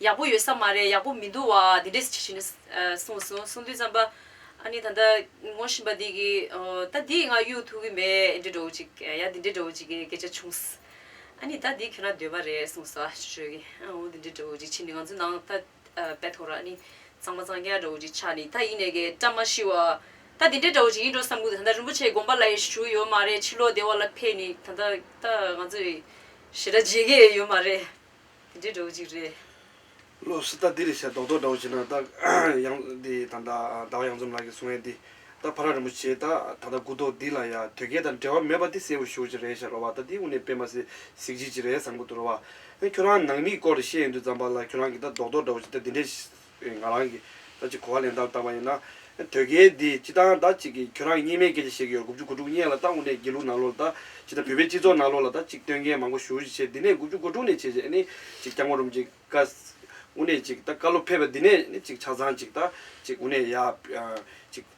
Speaker 6: ཡག་པོ་ཡོད་ས་མ་རེད་ཡག་པོ་མི་འདུག་བ་འདི་འདྲས་ཇི་བྱེད་ནས་གསུངས་སོང་གསུངས་དུས་བརྩམས་པ་ཨ་ནི་ད་ལྟ་ངོ་བཞིན་པ་འདི་གིས་ད་འདིས་ང་གཡུག་ཐུབ་གི་མེད་འདྲས་འགྲོ་གི་ཅིག་ཡ་འདི་འདྲས་འགྲོ་གི་ཅིག་གི་སྐད་ཆ་བྱུང། ཨ་ནི་ད་འདི་ཁྱོད་རང་འདོད་པ་རེད་གསུངས་སོ་ཅོ་ཅོ་གིས་འོ་འདི་འདྲས་འགྲོ་གི་ཅིག་ཕྱིན་ནས་ང་ཚོའི་ནང་ད་དཔེ་ཐོ་ར་ཨ་ནི་གཙང་མ་གཙང་རྒྱག་འགྲོ་གི་ཅིག་ཆགས་ནས་ད་ཡིན་ནས་ཀྱི་བཀྲ་མ་ཤིས་བ་ད་འདི་འདྲས་འགྲོ་གི་ཅིག་ཡིན་འགྲོ་བསམ་གི་འདུག་ད་ལྟ་རིན་པོ་ཆེ་དགོངས་པ་ལ་ཡེ་ཤུ་ཡོད་མ་རེད་ཕྱི་ལོག་སྡེ་བ་ལ་ཕེབས་ནས་ད་ལྟ་ད་ང་ཚོས་ཞེ་དྲག་བརྗེད་ཀྱི་ཡོད་མ་རེད། འདྲེ་འདྲ་
Speaker 4: བོ་ཅིག་རེད། བློ་སི་ད་འདི་རེད་བྱས་རྡོག་རྡོག་འདྲ་བོ་བྱས་ན་ད་ཡང་འདི་ད་ད་བ་ཡང་འཛོམས་ལགས་ཀྱི་གསུང་ཡས་འདི་ད་བྷ་ར་རིན་པོ་ཆེ་ད་ད་ད་གུ་དོག་འདི་ལ་ཡ་དོལ་རྒྱལ་དང་འབྲེལ་བ་མེད་པ་འདི་གསལ་བོ་ཞུ་ཅིག་རེད་བྱས་རོ་བ་ད་འདི་དབུ་ནས་སྤེལ་མ་ཟིག་ཟིག་ཅིག་ཅིག་རེད་བསམ་གི་འདུག་རོ་བ། ཁྱོད་རང་ནང་མིའི་སྐོར་རེ་བཤད་ཡོད་འདུག་ཛམ་བྷ་ལ་ཁྱོད་རང་གི་ད་རྡོག་རྡོག་འདྲ་བོ་ཅིག་ད་འདི་འདྲས། པའི་ང་རང་གིས་ད་ཅི་གོ་བ་ལེན་སྟངས་བཏང་བ་ཡིན་ན། དོལ་རྒྱལ་འདི་ཅི་སྟངས་ད་ཅིག་གིས་ཁྱོད་རང་གཉིས་མེད་སྐད་ཆ་བཤད་ཀྱི་ཡོད་དགུ་བཅུ་གོ་དྲུག་སྙན་ལ་ད་དངོས་གནས་སྒྱིད་ལུག་ནང་ལོག་ལ་ད་ཅིག་ད་བོད་པའི་སྤྱི་ཚོགས་ནང་ལོག་ལ་ད་ཅིག་སྟོན་མཁན་མང་པོ་ཞུ་བཞི་བྱས་འདི་ནས་དགུ་བཅུ་གོ་དྲུག་ནས་བྱས་བྱས་ནས་ཅིག་སྐྱག་མོ་རུམ་ཅིག་ཀ། དངོས་གནས་ཅིག་ད་བཀའ་སློབ་ཕེབས་པ་འདི་ནས་ནས་ཅིག་ཆ་ཚང་ཅིག་ད་ཅིག་དངོས་གནས་ཡག། ཅིག།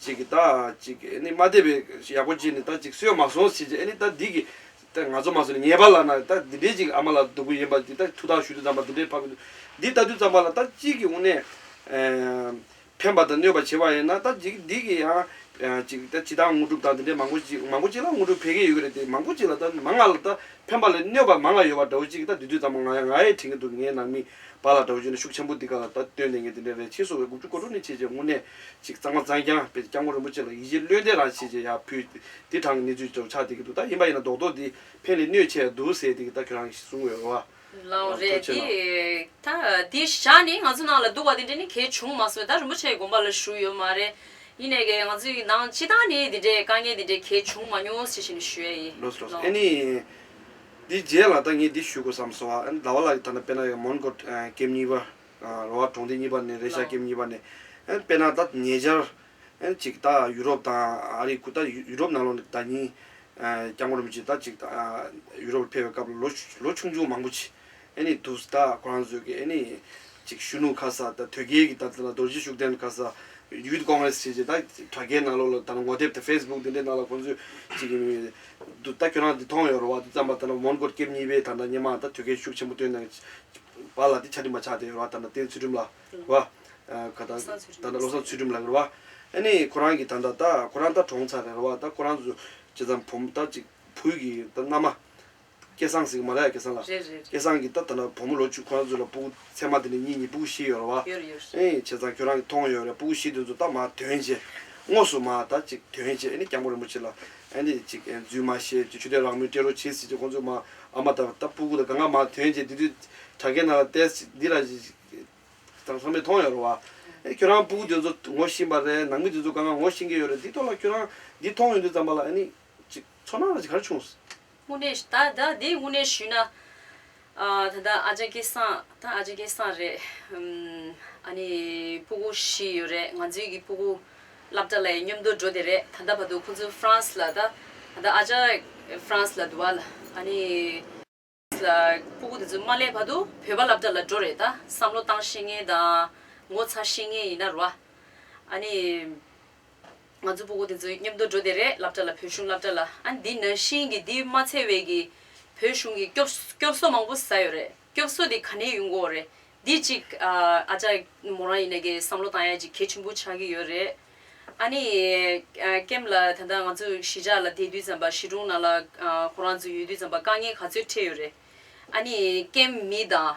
Speaker 4: གཅིག་གིས་ད་གཅིག་གིས་ཨེ་ནི་མ་དད་པའི་ཡག་པོ་གཅིག་ནི་ད་གཅིག་སོས་མ་སོང་ཟེར་གྱི་ཨེ་ནི་ད་འདི་གི་ད་ང་ཚོ་མ་སོང་ནས་ཉེས་པ་ལགས་ན་ད་འདི་འདྲའི་གཅིག་ཨ་མ་ལགས་སྡུག་གི་ཡིན་པ་འདི་ད་ཐུགས་ཐག་གཞུས་ཏེ་ཛམ་པ་འདི་འདྲའི་ཕབ་གི་འདུག་འདི་ད་དུས་ཙམ་པ་ལ་ད་གཅིག་གིས་དབུ་ནས་ཕན་པ་དང་གནོད་པ་བྱེད་པ་ཡིན་ན་ད་གཅིག་འདི་གིས་ཡང་གཅིག་ད་ཇི་ལྟར་དངོས་གྲུབ་དང་འདི་འདྲའི་མང་པོ་གཅིག་མང་པོ་གཅིག་ལ་དངོས་གྲུབ་འཕེལ་གྱི་ཡོད་གི་རེད་དེ་མང་པོ་གཅིག་ལ་ད་མང་ང་ལ་ད་ཕན་པ་ལས་གནོད་པ་མང་ང་ཡོད་པ་འདྲ་བོ་གཅིག་གིས་ད་འདི་དུས་ཙམ་ང་ཡང་ང་ཡི་དྲིན་གྱི་འདུག་ངའི་ནང་མི། པ་ལ་དགྲ་བོའི་རྗེས་ལ་ཤུགས་ཆེན་པོ་འདི་ག་ལ་ད་སྟོན་ནས་ངས་འདི་འདྲའི་རས་ཆེན་བཟོ་བའི་དགུ་བཅུ་གོ་དྲུག་ནི་བྱས་རྗེས་དངོས་གནས་ཅིག་གཙང་མ་གཙང་རྐྱང་བས་སྐྱབས་མགོན་རིན་པོ་ཆེ་ལ་ཡིད་ཆེས་བློས་འདས་རང་བྱས་རྗེས་ཡར་ཕུལ། འདི་དྲང་གི་གནས་ཚུལ་ལྟར་ཆགས་བསྡད་ཀྱི་འདུག་ད་ཡིན་པ་ཡིན་ན་རྡོག་རྡོག་འདི་ཕན་ལས་གནོད་ཆེ་འདུག་ཟེར་བསྡད་ཀྱི་ད་ཁྱོད་རང་གིས་གསུང་འོས་བ། ལའང་རེད། ཐུགས་ཆེ་གནང།
Speaker 6: དེ་ཞག་ནས་ང་ཚོ་ནང་ལ་འདུག་པ་དེ་འདྲ་ནི་གལ་བྱུང་མ་སོང་བས་ད་རིན་པོ་ཆེའི་དགོངས་པ་ལ་ཞུགས་ཡོད་མ་རེད། ཡིན་ནས་ཀྱི་ང་ཚོའི་ནང་སྤྱི་དང་ནི་འདི་འདྲའི་དཀའ་ངལ་འདི་འདྲའི་གལ་བྱུང་མ་མྱོང་ཟེར་བཞིན་ཞུ་ཡ་ཡིན། ལོས་ལོས། ཨེ་ནི།
Speaker 4: འདི་རྗེས་ལ་ད་ངས་འདི་ཞུ་དགོས་བསམ་སོང་ཨ་ཟླ་བ་ལགས་ཀྱི་ཐ་ན་དཔེར་ན་ཡང་མོན་གྷོ་སྐེམ་གཉིས་པ། རོ་ཧ་གྲོང་སྡེ་གཉིས་པ་ནས་རེད་ཤ་སྐེམ་གཉིས་པ་ནས། དཔེར་ན་ད་ཉེ་ཆར། ཅིག་ད་ཡུ་རོབ་དང་ཨ་རིའི་ཁུལ་ད་ཡུ་རོབ་ནང་ལོ་ནས་ད་གཉིས། སྐྱབས་མགོན་རིན་པོ་ཆེ་ད་ཅིག་ད་ཡུ་རོབ་ལ་ཕེབས་པའི་སྐབས་ལ་ལོ་ཆུང་ཆུང་མང་པོ་ཆེ། ཨེ་ནི་དུ་ཟ་དག་ཁོ་རང་བཟོས་ཀྱི་ཨེ་ནི་ཅིག་གཞོན་ནུ་ཁ་ཟ་དང་དོལ་རྒྱལ་གྱི་ད་ལྟ་ལ་རྡོ་རྗེ་ཤུགས་ལྡན་ཁ་ཟ Youth Congress བྱས་རྗེས་ད་དྲ་རྒྱའི་ནང་ལོག་ལ་ད་ནང་ངོ་དེབ་དང Facebook དེ་འདྲའི་ནང་ལ་ཁོང་ཚོས་ཅིག་གི་མི་འདུག་ད་ཁྱོད་རང་དེ་མཐོང་ཡོད་རོ་བ་དེ་ཙམ་པ་ད་ནང་མོན་གོར་སྐྱེབས་གཉིས་པའི་ད་ནང་སྙེ་མང་དང་དོལ་རྒྱལ་ཤུགས་ཆེན་པོ་བཏོན་ནང་བ་ལ་དེ་ཆ་འདྲི་མ་ཆགས་བསྡད་ཡོད་རོ་བ་ད་ནང་བསྟན་ཚུལ་ཁྲིམས་ལ་རོ་བ་ད་ནང་བློ་བཟང་ཚུལ་ཁྲིམས་ལ་རོ་བ་ཨེ་ནི་ཁོ་རང་གི་ད་ནང་ད་ཁོ་རང་ད་གྲོངས་ཚར་རེད་རོ་བ་ད་ཁོ་རང་བཟོས་རྗེས་ད་བུམ་ད་ཅིག་བུ་གི་ད་མནའ་མ་སྐལ་བཟང་ཟིག་མ་ལ་ཡ་སྐལ་བཟང་ལ། རེད་རེད། སྐལ་བཟང་གིས་ད་ད་ན་བུ་མོ་ལོ་བཅུ་ཁོ་ན་ཚོས་ལ་སྤུ་གུ་ཚད་མ་དེ་ནས་གཉིས་གཉིས་སྤུ་གུ་བཞི་ཡོད་ར་བ། ཡོད་རེད་ཡོད་རེད། ཨེ་བྱས་ཙང་ཁྱོད་རང་གིས་མཐོང་ཡོད་རེད་སྤུ་གུ་བཞི་དེ་ཚོ་ད་མ་དོན་ཅི། དངོས་སུ་མ་ད་ཅིག་དོན་ཅི་ཨེ་ནི་སྐྱག་མོ་རིན་པོ་ཆེ་ལ་ཨེ་ནི་ཅིག་ཨེ་རྫུན་མ་བཤད་ཅིག་ཆུ་ཐལ་རག་མོའི་སྤྲེལ་རོ་བྱེད་ཟིག་ཅིག་ཁོང་ཚོས་མ་ཨ་མ་ད་ད་སྤུ་གུ་ད་ག་ང་མ་དོན་ཅི་དེ་དུས་དྲ་རྒྱའི་ནང་ལ་བལྟས་ཅིག་འདི་ར་ཅིག་ད་ཚང་མས་མཐོང་ཡོད་ར་བ། ཨེ་ཁྱོད་རང་སྤུ་གུ་དེ་ཚོ་ངོ་ཤེས་པ་རེད་ནང་མི་དེ་ཚོ་ག་ང་ངོ་ཤེས་མཁན་ཡོད་རེད་འདི་ཐོག་ལ་ཁྱོད་རང་འདི་མཐོང་ཡོད་འདི་ཙམ་པ་ལ་ཨེ་ནི་ཅིག་ཚོར་སྣང་ར་ཅིག་ག་རེ་བྱུང། དངོས་གནས་ད་ད་དེ་
Speaker 6: དངོས་གནས་ཞུས་ན། ད་ལྟ་ཨ་ཅག་སྐལ་བཟང་ད་ཨ་ཅག་སྐལ་བཟང་རེད། ཨ་ནི་སྤུ་གུ་བཞི་ཡོད་རེད་ང་ཚོའི་གི་སྤུ་གུ་བླ་བྲ་ལའི་སྙོམ་དུ་འགྲོ་དེ་རེད་ད་ལྟ་བར་དུ་ཁོང་ཚོ་ཧྥ་རན་སི་ལ་ད་ད་ལྟ་ཨ་ཅག་ཧྥ་རན་སི་ལ་འདུག་བ་ལ་ཨ་ནི་ལ་སྤུ་གུ་དེ་ཚོ་མ་སླེབས་བར་དུ་བོད་པ་བླ་བྲ་ལ་འགྲོ་རེད་ད་བསམ་བློ་བཏང་ཤེས་ངེས་དང་ངོ་ཚ་ཤེས་ངེས་ཡིན་ན་རུ་བ་ཨ་ནི། ང་ཚོ་སྤུ་གུ་དེ་ཚོའི་མཉམ་དུ་འགྲོ་དེ་རེད་སླབ་གྲྭ་ལ་བོད་གཞུང་སླབ་གྲྭ་ལ་ཨ་འདི་ན་ཤིང་གི་འདི་མ་ཚད་བས་ཀྱི་བོད་གཞུང་གི་སྐྱོབ་སྐྱོབ་སོ་མང་པོ་ཟ་ཡོད་རེད་སྐྱོབ་སོ་དེ་ག་ནས་ཡོང་གོ་རེད་འདི་གཅིག་ཨ་ཅག་མོ་རང་ཡིན་ན་གི་བསམ་བློ་བཏང་ཡ་གཅིག་གལ་ཆེན་པོ་ཆགས་ཀྱི་ཡོད་རེད་ཨ་ནི་ཀེམ་ལ་ད་ལྟ་ང་ཚོ་གཞིས་ཆགས་ལ་བསྡད་དུས་ཙམ་པ་གཞིས་གྲོང་ནང་ལ་ཁོ་རང་ཚོ་ཡོད་དུས་ཙམ་པ་དཀའ་ངལ་ག་ཚོད་འཕྲད་ཡོད་རེད་ཨ་ནི་ཀེམ་མི་དང་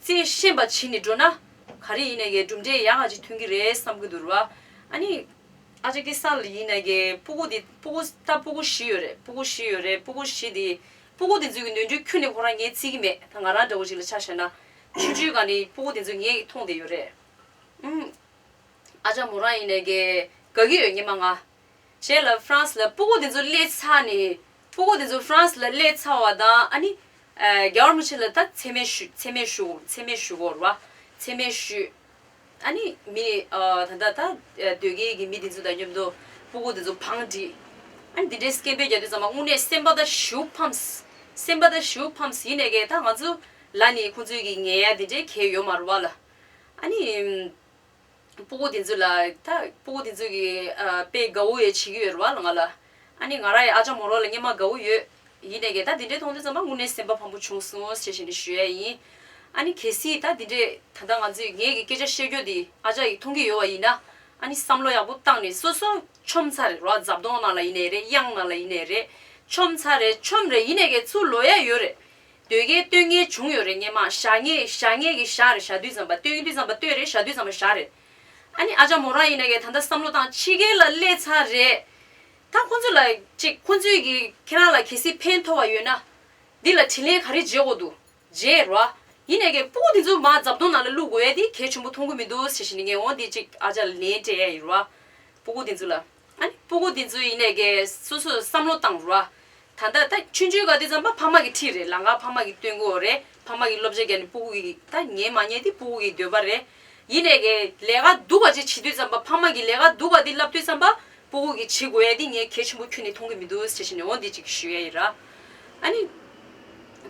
Speaker 6: རྩེ་ཤེས་པ་བྱིན་ནས་འགྲོ་ན། ག་རེ་ཡིན་ན་གའི་གྲུབ་འབྲས་ཡག་ང་ཅིག་ཐོན་གི་རེད་བསམ་གི་འདུག་ར། ཨ་ནི། ཨ་ཅག་གི་ས་ལ་ཡིན་ན་གའི་སྤུ་གུ་དེ་སྤུ་གུ་ད་སྤུ་གུ་བཞི་ཡོད་རེད་སྤུ་གུ་བཞི་ཡོད་རེད་སྤུ་གུ་བཞི་དེ། སྤུ་གུ་དེ་ཚོའི་གི་ནོན་འཁྲུལ་ཁྱོད་ནི་ཁོ་རང་ངས་རྩིས་གི་མེད་ད་ང་རང་འདྲ་བོ་ཅིག་ལ་ཆ་བཞག་ན། ཆུ་ཆུའི་ག་ནི་སྤུ་གུ་དེ་ཚོ་ངས་མཐོང་བསྡད་ཡོད་རེད། ཨུམ། ཨ་ཅག་མོ་རང་ཡིན་ན་གའི་ག་གི་ཡོད་ཉི་མ་ང། བྱས་ལ་ཧྥ་རན་སི་ལ་སྤུ་གུ་དེ་ཚོ་སླེ་ཚར་ནས། ཕྲུ་གུ་དེ་ཚོ་ཧྥ་རན་སི་ལ་བསླེས་ཚར་བ་དང་ཨ་ནི། རྒྱ་གར་མི་ཆེན་ལ་ད་འཚེ་མེད་ཞུ་འཚེ་མེད་ཞུ་འཚེ་མེད་ཞུ་གོ་ར་བ། འཚེ་མེད་ཞུ། ཨ་ནི་མི་ད་ལྟ་ད་སྡོད་སྐལ་གྱི་མི་དེ་ཚོ་དང་མཉམ་དུ་ཕྲུ་གུ་དེ་ཚོ་བང་བསྒྲིགས། ཨ་ནི་དེ་འདྲའི་སྐད་འབོད་རྒྱག་དུས་ཚང་མ་དངོས་གནས་སེམས་པ་ད་ཞིའུ་ཕམས། སེམས་པ་ད་ཞིའུ་ཕམས་ཡིན་ནས་ཀྱེ་ད་ང་ཚོ་ལ་ནི་ཁོང་ཚོའི་གི་ངལ་དེ་འདྲའི་གལ་ཡོད་མ་རུ་བ་ལ། ཨ་ནི། སྤུ་གུ་དེ་ཚོས་ལ། ད་སྤུ་གུ་དེ་ཚོས་ཀྱི་དཔེ་དགའ་བོ་ཡོད་བྱེད་ཀྱི་ཡོད་རེད་བ་ལ་ང་ལ། ཨ་ནི་ང་རང་ཡི་ཨ་ཅག་མོ་རང་ལ་སྙན་མ་དགའ་བོ་ཡོད། ཡིན་ནས་ཀྱི་ད་འདི་འདྲའི་མཐོང་དུས་ཚང་མ་དངོས་གནས་སེམས་པ་ཕམ་པོ་བྱུང་སོང་ཞེས་བཤད་ནས་ཞུ་ཡས་ཡིན། ཨ་ནི་གལ་སྲིད་ད་འདི་འདྲའི་ད་ལྟ་ང་ཚོས་ངས་ཀྱི་སྐད་ཆ་བཤད་རྒྱུ་འདི་ཨ་ཅག་གིས་མཐོང་གི་ཡོད་བ་ཡིན་ན། ཨ་ནི་བསམ་བློ་ཡག་པོ་བཏང་ནས་སོ་སོ་ཆོམ་ཚ་རེད་རོ་རྫབ་དོང་ནང་ལ་ཡིན་ནས་རེད་གཡང་ནང་ལ་ཡིན་ནས་རེད། ཆོམ་ཚ་རེད་ཆོམ་རེད་ཡིན་ནས་ཀྱི་ཚུར་ལོས་ཡས་ཡོད་རེད། ཟློས་གར་སྟོད་ངས་བྱུང་ཡོད་རེད་སྙན་མ་ཞག་ངས་ཞག་ངས་ཀྱི་ཞག་རེད་ཞག་བདུད་ཙམ་པ་སྟོད་ཡུན་བདུད་ཙམ་པ་སྟོད་རེད་ཞག་བདུད་ཙམ་པ་ཞག་རེད། ཨ་ནི་ཨ་ཅག་མོ་རང་ཡིན་ན་ཀྱི་ད་ལྟ་བསམ་བློ་བཏང་ཕྱི་རྒྱལ་ལ་སླེབས་ཚར་རེད། ད་ཁོང་ཚོ་ལ་ཅིག་ཁོང་ཚོའི་ཀྱི་ཁྱེད་རང་ལ་གལ་སྲིད་ཕན་ཐོག་བ་ཡོད་ན། འདི་ལ་དྲིན་ལན་ག་རེ་འཇལ་དགོས་འདུག་རྗེས་རོ། ཡིན་ན་ཀྱི་སྤུ་གུ་འདི་ཚོ་མ་རྫབ་དོང་ནང་ལ་བླུག་དགོས་ཡ་དེ་གལ་ཆུང་པོ་མཐོང་གི་མི་འདུག་ཟེར་བཞིན་ནི་ངས་འོང་འདི་ཅིག་ཨ་ཅག་ལ་ལན་སྤྲད་ཡ་ཡིན་རོ། སྤུ་གུ་འདི་ཚོ་ལ། སྤུ་གུ་འདི་ཚོའི་ཡིན་ནས་ཀྱི་སོ་སོས་བསམ་བློ་བཏང་རོགས། ད་ལྟ་ད་ཆུན་ཆུན་ག་དེ་ཙམ་པ་ཕ་མ་གི་ཁྲིད་རེད་ལང་ཀ་ཕ་མ་གི་སྟོན་གོ་རེད་ཕ་མ་གི་སློབ་བྱ་རྒྱ་ནི་སྤུ་གུ་གི་ད་ཉན་མ་ཉན་དེ་སྤུ་གུ་གི་འདོད་པ་རེད། ཡིན་ནས་ཀྱི་ལས་ཀ་སྡུག་པ་ཅིག་བྱེད་དུས་ཙམ་པ་ཕ་མ་གི་ལས་ཀ་སྡུག་པ་འདི་ལབ་དུས་ཙམ་པ་སྤུ་གུ་གི་བྱེད་དགོས་ཡ་འདི་ངས་གལ་ཆེན་པོ་ཁྱོད་ནས་མཐོང་གི་མི་འདུག་བྱེད་བྱེད་ནས་འོ་འདི་ཅིག་ཞུ་ཡ་ཡི་ར། ཨཱ་ནི།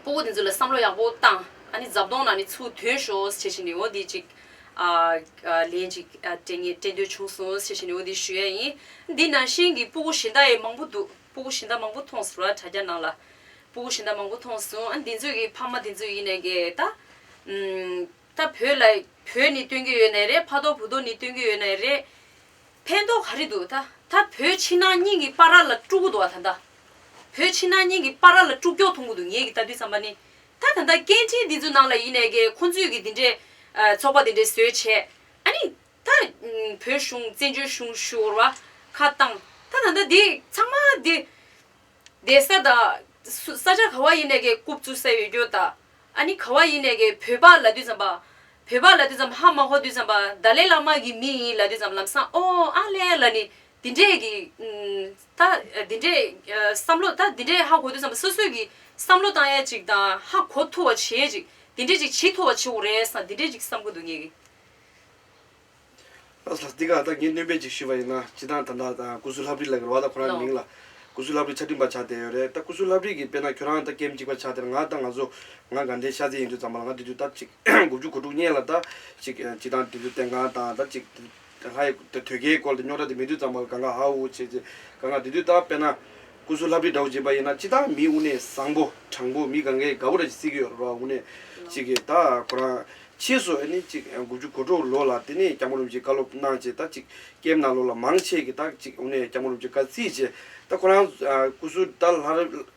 Speaker 6: སྤུ་གུ་འདི་ཚོ་ལ་བསམ་བློ་ཡག་པོ་བཏང་ཨཱ་ནི་རྫབ་དོང་ན་ནི་ཚུར་དོན་ཞོག་བྱེད་བྱེད་ནས་འོ་འདི་ཅིག། ལན་ཅིག་དྲན་ངེས་དྲན་འདོད་བྱུང་སོང་ཟེར་བཞིན་འོ་དེ་ཞུ་ཡ་ཡིན། འདི་ན་ཤིང་གི་སྤུ་གུ་ཞེ་འདའ་ཡས་མང་པོ་འདུག་སྤུ་གུ་ཞེ་འདའ་མང་པོ་མཐོང་ཟེར་བ་དྲ་རྒྱ་ནང་ལ། སྤུ་གུ་ཞེ་འདའ་མང་པོ་མཐོང་སོང་ཨ་འདི་ཚོས་གི་ཕ་མ་དེ་ཚོས་ཡིན་ནས་གི་ད། ད་བོད་ལ་བོད་ནི་སྟོན་གི་ཡོད་ནའི་རེད་ཕ་ཐོག་བུ་ཐོག་ནི་སྟོན་གི་ཡོད་ནའི་རེད། ཕན་ཐོག་ག་རེ་འདུག་ད་ད་བོད་ཕྱི་ནང་གཉིས་གི་པ་ར་ལ་དཀྲུག་གི་འདུག་བ་ད་ད། བོད་ཕྱི་ནང་གཉིས་གི་པ་ར་ལ་དཀྲུག་ཀྱོག་འཐུང་གི་འདུག་ངས་གི་ད་དུས་བསམ་པ་ནི། ད་ད་ལྟ་སྐད་འཕྲིན་འདི་ཚོ་ནང་ལ་ཡིན་ནས་ཀྱི་ཁོང་ཚོས་ཀྱི་འདི་འདྲའི། ཚོགས་པ་འདི་འདྲའི་བཟོས་བྱས། ཨ་ནི། ད། བོད་གཞུང་བཙན་བྱོལ་གཞུང་ཞུ་བར་བ། ཁ་བཏང། ད་ད་ལྟ་འདི་ཚང་མ་འདི། བསྡད་ས་ད། སུ་ས་ཆ་ག་བ་ཡིན་ནས་ཀྱི་རྐུབ་བཙུགས་ས་ཡོད་རྒྱུ་ད། ཨ་ནི་ག་བ་ཡིན་ནས་ཀྱི་བོད་པ་ལ་དུས་ཙམ་པ། བོད་པ་ལ་དུས་ཙམ་ཧ་མ་ཧོ་དུས་ཙམ་པ་ད་ལས་བླ་མ་གྱི་མི་ཡིན་ལ་དུས་ཙམ་ལམ་སང་ཨོ་ཨ་ལས་ལ་ནི་འདི་འདྲས་ཀྱི། ད་འདི་འདྲའི་བསམ་བློ་ད་འདི་འདྲའི་ཧ་གོ་དུས་བསམ་པ་སོ་སོའི་གི་བསམ་བློ་བཏང་ཡ་ཅིག་དང་ཧ་གོ་ཐུ་བ་བྱེད་ཅིག་འདི་འདྲའི་ཅིག་བྱེད་ཐུ་བ་བྱེད་འོ་རེད་སང་འདི་
Speaker 4: འདྲའི་ཅིག་བསམ་གོ་འདུག་ངེད་གི། ཨ་ལགས་འདི་ག་ད་ངས་སྣོན་སྤེལ་ཅིག་ཞུས་པ་ཡིན་ན་སྤྱི་བཏང་དང་ད་ད་ཀུ་སུ་ལྷབ་རིག་ལ་གི་ལ་བ་ད་ཁོ་རང་གི་མིང་ལ་ཀུ་སུ་ལྷབ་རིག་ཆ་འདྲིན་པ་ཆགས་བསྡད་ཡོད་རེད་ད་ཀུ་སུ་ལྷབ་རིག་གི་དཔེ་ན་ཁྱོད་རང་ད་སྐད་འཇིགས་པ་ཆགས་བསྡད་ན་ང་ད་ང་ཚོ་ང་དགའ་འདྲེ་ཤ་ཚའི་ཡིན་དུས་ཙམ་པ་ལ་ང་འདི་དུས་ད་ཅིག་དགུ་བཅུ་གོ་དྲུག་བསྙེན་ལ་ད་ཅིག་སྤྱི་བཏང་འདི་དུས་བསྟན་སྒང་དང་ད་ཅིག་དེ་ལྷ་ཡི་དོད་རྒྱལ་གྱི་སྐོར་དུ་རྙོག་དྲ་དེ་མི་བདུད་གཙང་མ་གང་གཱ་ཧཱུྃ་ཧཱུྃ་བྱེད། གང་གཱ་བདུད་འདུལ་རྟགས་དཔེར་ན། སྐུ་གཟུགས་ལྷ་བྲིས་དགྲ་བོ་བྱེད་པ་ཡིན་ན་སྤྱི་དང་མིའི་དབུ་གནས་བཟང་པོ་དྲང་པོ་མི་གང་གཱའི་ག་བུ་ར་ཅི་བརྩིགས་ཀྱི་ཡོད་ར་བ་དབུ་གནས་གཅིག་གིས་ད་ཁོ་རང་ཕྱིས་སུ་ཨ་ནི་གཅིག་དགུ་བཅུ་གོ་དྲུག་ལོ་ལ་དེ་ནས་སྐྱབས་མགོན་རིན་པོ་ཆེའི་བཀའ་སློབ་གནང་བྱས་ད་གཅིག་སྐྱེས་མ་ན་ལོ་ལ་མང་ཆེ་གི་ད་གཅིག་དབུ་གནས་སྐྱབས་མགོན་རིན་པོ་ཆེ་བཀའ་བརྩིས་བྱས་ད་ཁོ་རང་སྐུ་གཟུགས་ད་ལྷ་རབས་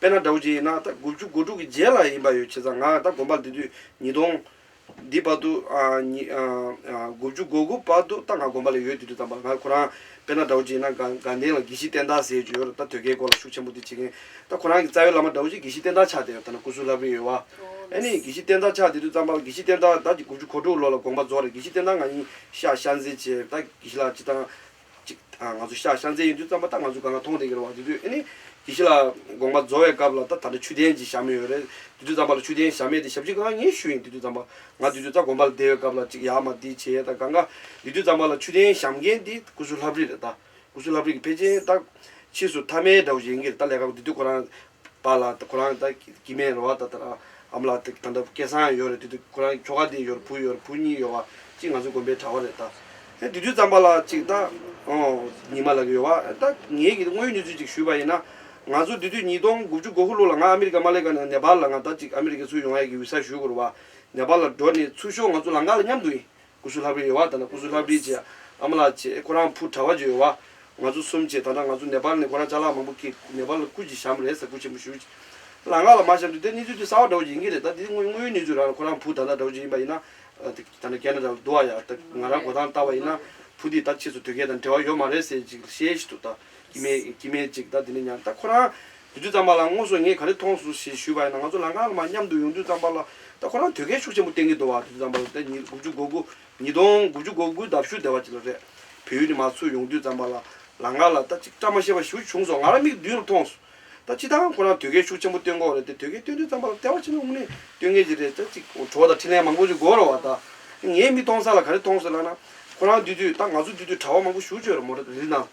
Speaker 4: དཔེར་ན་དགྲ་བོ་རྗེ་ཡིན་ན་ད་དགུ་བཅུ་གོ་དྲུག་གི་རྗེས་ལ་ཡིན་པ་ཡོད་བྱས་ཙང་ང་ད་དགོན་པར་འདི་དུས་ཉིས་སྟོང། འདི་བར་དུ། དགུ་བཅུ་གོ་དགུ་བར་དུ་ད་ང་དགོན་པ་ལ་ཡོད་འདི་དུས་ད་བར་ང་ཁོ་རང་དཔེར་ན་དགྲ་བོ་རྗེ་ཡིན་ན་དགའ་ལྡན་ལ་དགེ་བཤེས་བསྟན་བདག་ཟེར་གྱི་ཡོད་ར་ད་དོལ་ཁའི་སྐོར་ལ་ཤུགས་ཆེན་པོ་འདི་བྱེད་མཁན་ད་ཁོ་རང་གི་རྩ་བའི་བླ་མ་དགྲ་བོ་རྗེ་དགེ་བཤེས་བསྟན་བདག་ཕྱག་དེ་ཡང་ཐ་ན་སྐུ་གཟུགས་ལྷ་བུ་ཡོད་བ། ཨེ་ནི་དགེ་བཤེས་བསྟན་བདག་ཕྱག་འདི་དུས་ཙམ་བར་དགེ་བཤེས་བསྟན་བདག་ད་ཀྱི་དགུ་བཅུ་གོ་དྲུག་ལོ་ལ་དགོངས་པ་རྫོགས་རེད་དགེ་བཤེས་བསྟན་བདག་ང་ཡིན་ཤག་ཤག་མཛེས་བྱས་ད་དགེ་བཤེས་ལགས་ཅི་དང་གཅིག་ང་ཚོ་ཤ་ཤ་མཛེས་ཡིན་དུས་རྩམ་པ་ད་ང་ཚོ་ག་ལ་མཐོང་བདེ་གི་རེད་བ་དེ་དུས་ཨེ་ནི། དེ་ཤི་ལ་དགོངས་པ་རྫོ་བའི་སྐབས་ལ་ད་ད་ཆུ་ལྡན་གྱི་ཤ་མི་ཡོད་རེད་དེ་དུས་རྩམ་པ་ལ་ཆུ་ལྡན་ཤ་མེད་དེ་ཞབས་ཕྱི་གང་ངས་ཞུ་ཡིན་དེ་དུས་རྩམ་པ་ང་དེ་དུས་རྩ་དགོངས་པ་ལ་བསྡད་ཡོད་སྐབས་ལ་གཅིག་ཡག་མ་དེ་བྱས་ད་གང་ག་དེ་དུས་རྩམ་པ་ལ་ཆུ་ལྡན་ཤམ་མཁན་དེ་ཀུ་སུ་ལྷབ་རིག་རེད་ད་ཀུ་སུ་ལྷབ་རིག་གི་ཕེ་ཅན་ད་ཕྱིས་སུ་ཐ་མའི་དགྲ་བོ་བཞེངས་གི་རེད་ད་ལས་ཀ་དེ་དུས་ཁོ་རང་པ་ལ་ཁོ་རང་ད་དཀྱིལ་མའི་རེ་བ་ད་དར་འམ་ལ་ད་འདྲ་སྐལ་བཟང་ཡོད་རེད་དེ་དུས་ཁོ་རང་ཁྱོ་ག་དེ་ཡོད་རེད་བུ་ཡོད་རེད་བུ་གཉིས་ཡོད་བ་གཅིག་ང་ཚོའི་དགོན་པའི་གྲྭ་བ་རེད་ད་ཨེ་དེ་དུས་ཙམ་པ་ལ་གཅིག་ད་ཉི་མ་ལགས་ཡོད་བ་ཨེ་ད་ངེད་ཀྱིས་དངོས་ཡོད་གནས་ཚུལ་གཅིག་ཞུས་པ་ཡིན་ན་ང་ཚོ་དེ་དུས་ཉིས་སྟོང་དགུ་བཅུ་གོ་དགུ་ལོ་ལ་ང་ཨ་མི་རི་ཀ་མ་ལེ་ཀ་ནས་ནེ་པཱལ་ལ་ང་ད་གཅིག་ཨ་མི་རི་ཀའི་ཚུར་ཡོང་ཡ་གི་འུ་ས་ཞུས་དགོས་རུ་བ་ནེ་པཱལ་ལ་འགྲོ་ནས་ཚུར་ཤོག་ང་ཚོ་ལང་ཀ་ལ་མཉམ་དུ་ཡིན་སྐུ་གཟུགས་ལྷ་བུའི་ཡོལ་བ་དང་ན་སྐུ་གཟུགས་ལྷ་བུའི་རྗེས་ཨ་མ་ལགས་ཀྱིས་ཁོ་རང་ཕུ་དྲ་བ་བརྒྱུད་ཡོང་བ། ང་ཚོ་གསུམ་གྱིས་ད་ལྟ་ང་ཚོ་ནེ་པཱལ་ནས་ཁོ་རང་ཅག་ལགས་མང་པོ་ཀིས་ནེ་པཱལ་ལ་སྐུ་གྱི་ཞམ་རས་ཟ་ཁུ་ཆེན་པོ་ཞུ། ལ་ང་ལ་མ་ཞམ་དུས་དེ་གཉིས་ཚོའི་དུས་གསར་བ་འདྲ་བོ་ཡིན་གྱི་རེད་ད་དེ་དངོས་ཡོད་གནས་ཚུལ་རང་ལ་ཁོ་རང་ཕུ་ད་ལྟ་འདྲ་བོ་ཅིག་ཡིན་པ་ཡིན་ན། ད་ནི་རྒས་ན་འདྲ་བ་འདུག་ཨ་ཡ་ད་ང་རང་གོ་ཐང་ལྟ་བ་ཡིན་ན་ཕུ་འདིས་ད་ཁྱེད་ཚོ་དུས་རྒས་དང་འབྲེལ་བ་ཡོད་མ་རེད་ཟེར་ཅིག་ཤེས་ཤི་འདུག་ད་ཀི་མེད་ཀི་མེད་ཅིག་ད་དེ་ནི་ཉང་ད་ཁོ་རང་དུས་ཚོད་རྩམ་པ་ལ་དངོས་སུ་ངས་ག་རེ་མཐོང་སོང་ཞེས་ཞུས་པ་ཡིན་ན་ང་ཚོ་ལ་ངག་ལ་མ་མཉམ་དུ་ཡོང་དུས་རྩམ་པ་ལ་ད་ཁོ་རང་དོལ་རྒྱལ་ཤུགས་ཆེན་པོ་བསྟེན་གྱི་འདུག་བ་དུས་ཚོད་རྩམ་པ་ལ་ད་ཉིས་དགུ་བཅུ་གོ་དགུ་ཉིས་སྟོང་དགུ་བཅུ་གོ་དགུའི་ལྡབ་ཞུགས་སྡེ་བ་ཅིག་ལ་རེད། བོད་ཡུལ་ནས་མར་ཚུར་ཡོང་དུས་རྩམ་པ་ལ་ལ་ངག་ལ་ད་ཅིག་བཀྲ་མ་ཤེས་པ་ཞིག་བྱུང་སོང་ང་རང་མིག་མདུན་རུ་མཐོང་སོང། ད་ཅི་ད་ཁོ་རང་དོལ་རྒྱལ་ཤུགས་ཆེན་པོ་བསྟེན་གོ་རེད་དེ་དོལ་རྒྱལ་བསྟེན་དུས་རྩམ་པ་ལ་ལྟེ་བ་ཕྱི་ནང་དབུ་སྣེ་བསྟོད་མཁན་ཅིག་རེད་ད་ཅིག་གྲོགས་དང་འཕྲིན་ལན་མང་པོ་ཅིག་དགོས་རོགས་བ་ད། ངའི་མིག་མཐོང་ས་ལ་ག་རེ་མཐོང་སོང་ལགས་ན། ཁོ་རང་འདུས་དུས་ད་ང་ཚོ་འདུས་དུས་གྲྭ་བ་མང་པོ་ཞུགས་བྱོས་རོགས་མོ་རེ་རེ་ནང།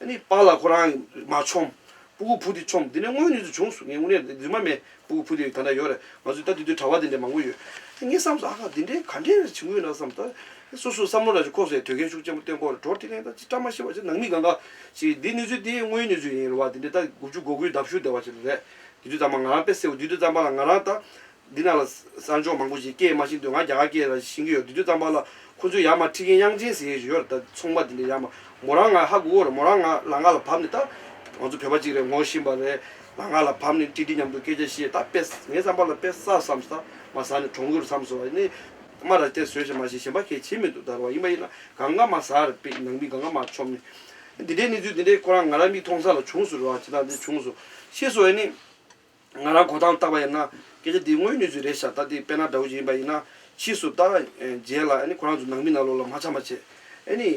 Speaker 4: ནི་སྤང་ལ་ཁོ་རང་མ་ཆོམས། སྤུ་གུ་ཕུ་དེ་ཆོམས། འདི་ནི་སྔོན་ནས་ཚུལ་བྱུང་གསུང་ངས་དངོས་གནས་རྫུན་མ་མེད་སྤུ་གུ་ཕུ་དེ་ད་འདྲ་ཡོད་རེད་ང་ཚོས་ད་དེ་དུས་གྲྭ་བ་དེ་འདྲས་མང་པོ་ཡོད། ངས་བསམས་སོ་ཨ་ཁ་འདི་འདྲས་ག་འདྲས་རེད་བྱུང་ཡོད་ན་བསམས། ད་སོ་སོའི་བསམ་བློ་ལ་ཅིག་ཁོག་ཟེར་དོལ་རྒན་ཤུགས་ཅན་པོ་སྟོན་པོར་གྲོགས་དེ་རིང་ད་ཅིག་བཀྲ་མ་ཤིས་པ་ཅིག་ནང་མི་གང་ག་ཅིག་འདི་གནས་ཚུལ་དེ་དངོས་གནས་ཚུལ་ཡིན་རུང་བ་འདི་འདྲས་ད་དགུ་བཅུ་གོ་དགུའི་ཟླ་བཤུ་བདེ་བ་ཅིག་རེད་དུས་དུས་ཙམ་པ་ང་རང་དཔེ་སེའུ་དུས་དུས་ཙམ་པ་ལ་ང་རང་ད་འདི་ན་ལ་གསར་འབྱོར་མང་པོ་ཞིག་སྐད་མ་ཤེས་འདུག་ང་རྒྱ་གར་སྐད་ལ་ཤེས་ཀྱི་ཡོད་དུས་དུས་ཙམ་པ་ལ་ཁོ་ཚོས་ཡ་མ་ཁྲི་ཁེན་དབྱངས་ཅན་ཟེར་ཡོད་ར་ད་ཚོང་པ་དེ་འདྲས་ཡ་མ་མོ་རང་ང་ཧ་གོ་གོ་ར་མོ་རང་ང་ལ་ང་ལ་བབས་ནས་ད་ང་ཚོ་བོད་པ་གཅིག་རེད་ངོ་བཞིན་པ་རེད་ལ་ང་ལ་བབས་ནས་ཀྲི་ཀྲི་མཉམ་དུ་སྐད་ཆ་བཤད་ད་དཔེ་ངའི་བསམ་པ་ལ་དཔེ་ས་བསམ་ས་མ་ས་ནས་གྲོང་ཁུལ་རུ་བསམ་སོང་བ་ཡིན་ནའི་མ་ར་དེ་ཟོས་ཤིང་མ་ཤིང་གཞན་པ་ཁས་བྱེད་མི་འདུག་ད་རུ་བ་ཡིན་པ་ཡིན་ན་གང་ཀ་མ་ཟར་དཔེ་ནང་མི་གང་ཀ་མ་ཆོམ་ནས་འདི་འདྲའི་གནས་ཚུལ་འདི་འདྲས་ཁོ་རང་ང་ར་མིག་མཐོང་ས་ལ་བྱུང་སོ་རུ་བ་ཇི་ལྟར་འདི་བྱུང་སོ་ཤེས་སོ་ཡིན་ནའི། ང་རང་གོ་ཐང་བཏགས་པ་ཡིན་ན་སྐད་ཆ་འདི་དངོས་ནུས་ཚོད་རེད་ཤག་ད་འདི་དཔལ་ནཱ་དྲ་བོ་ཅིག་ཡིན་པ་ཡིན་ན་ཕྱིས་སུ་ལྟ་མཇལ་ལ་ཁོ་རང་ཚོ་ནང་མི་ནང་ལོག་ལ་མ་ཆ་མ་བྱེད་ཨེ་ནི།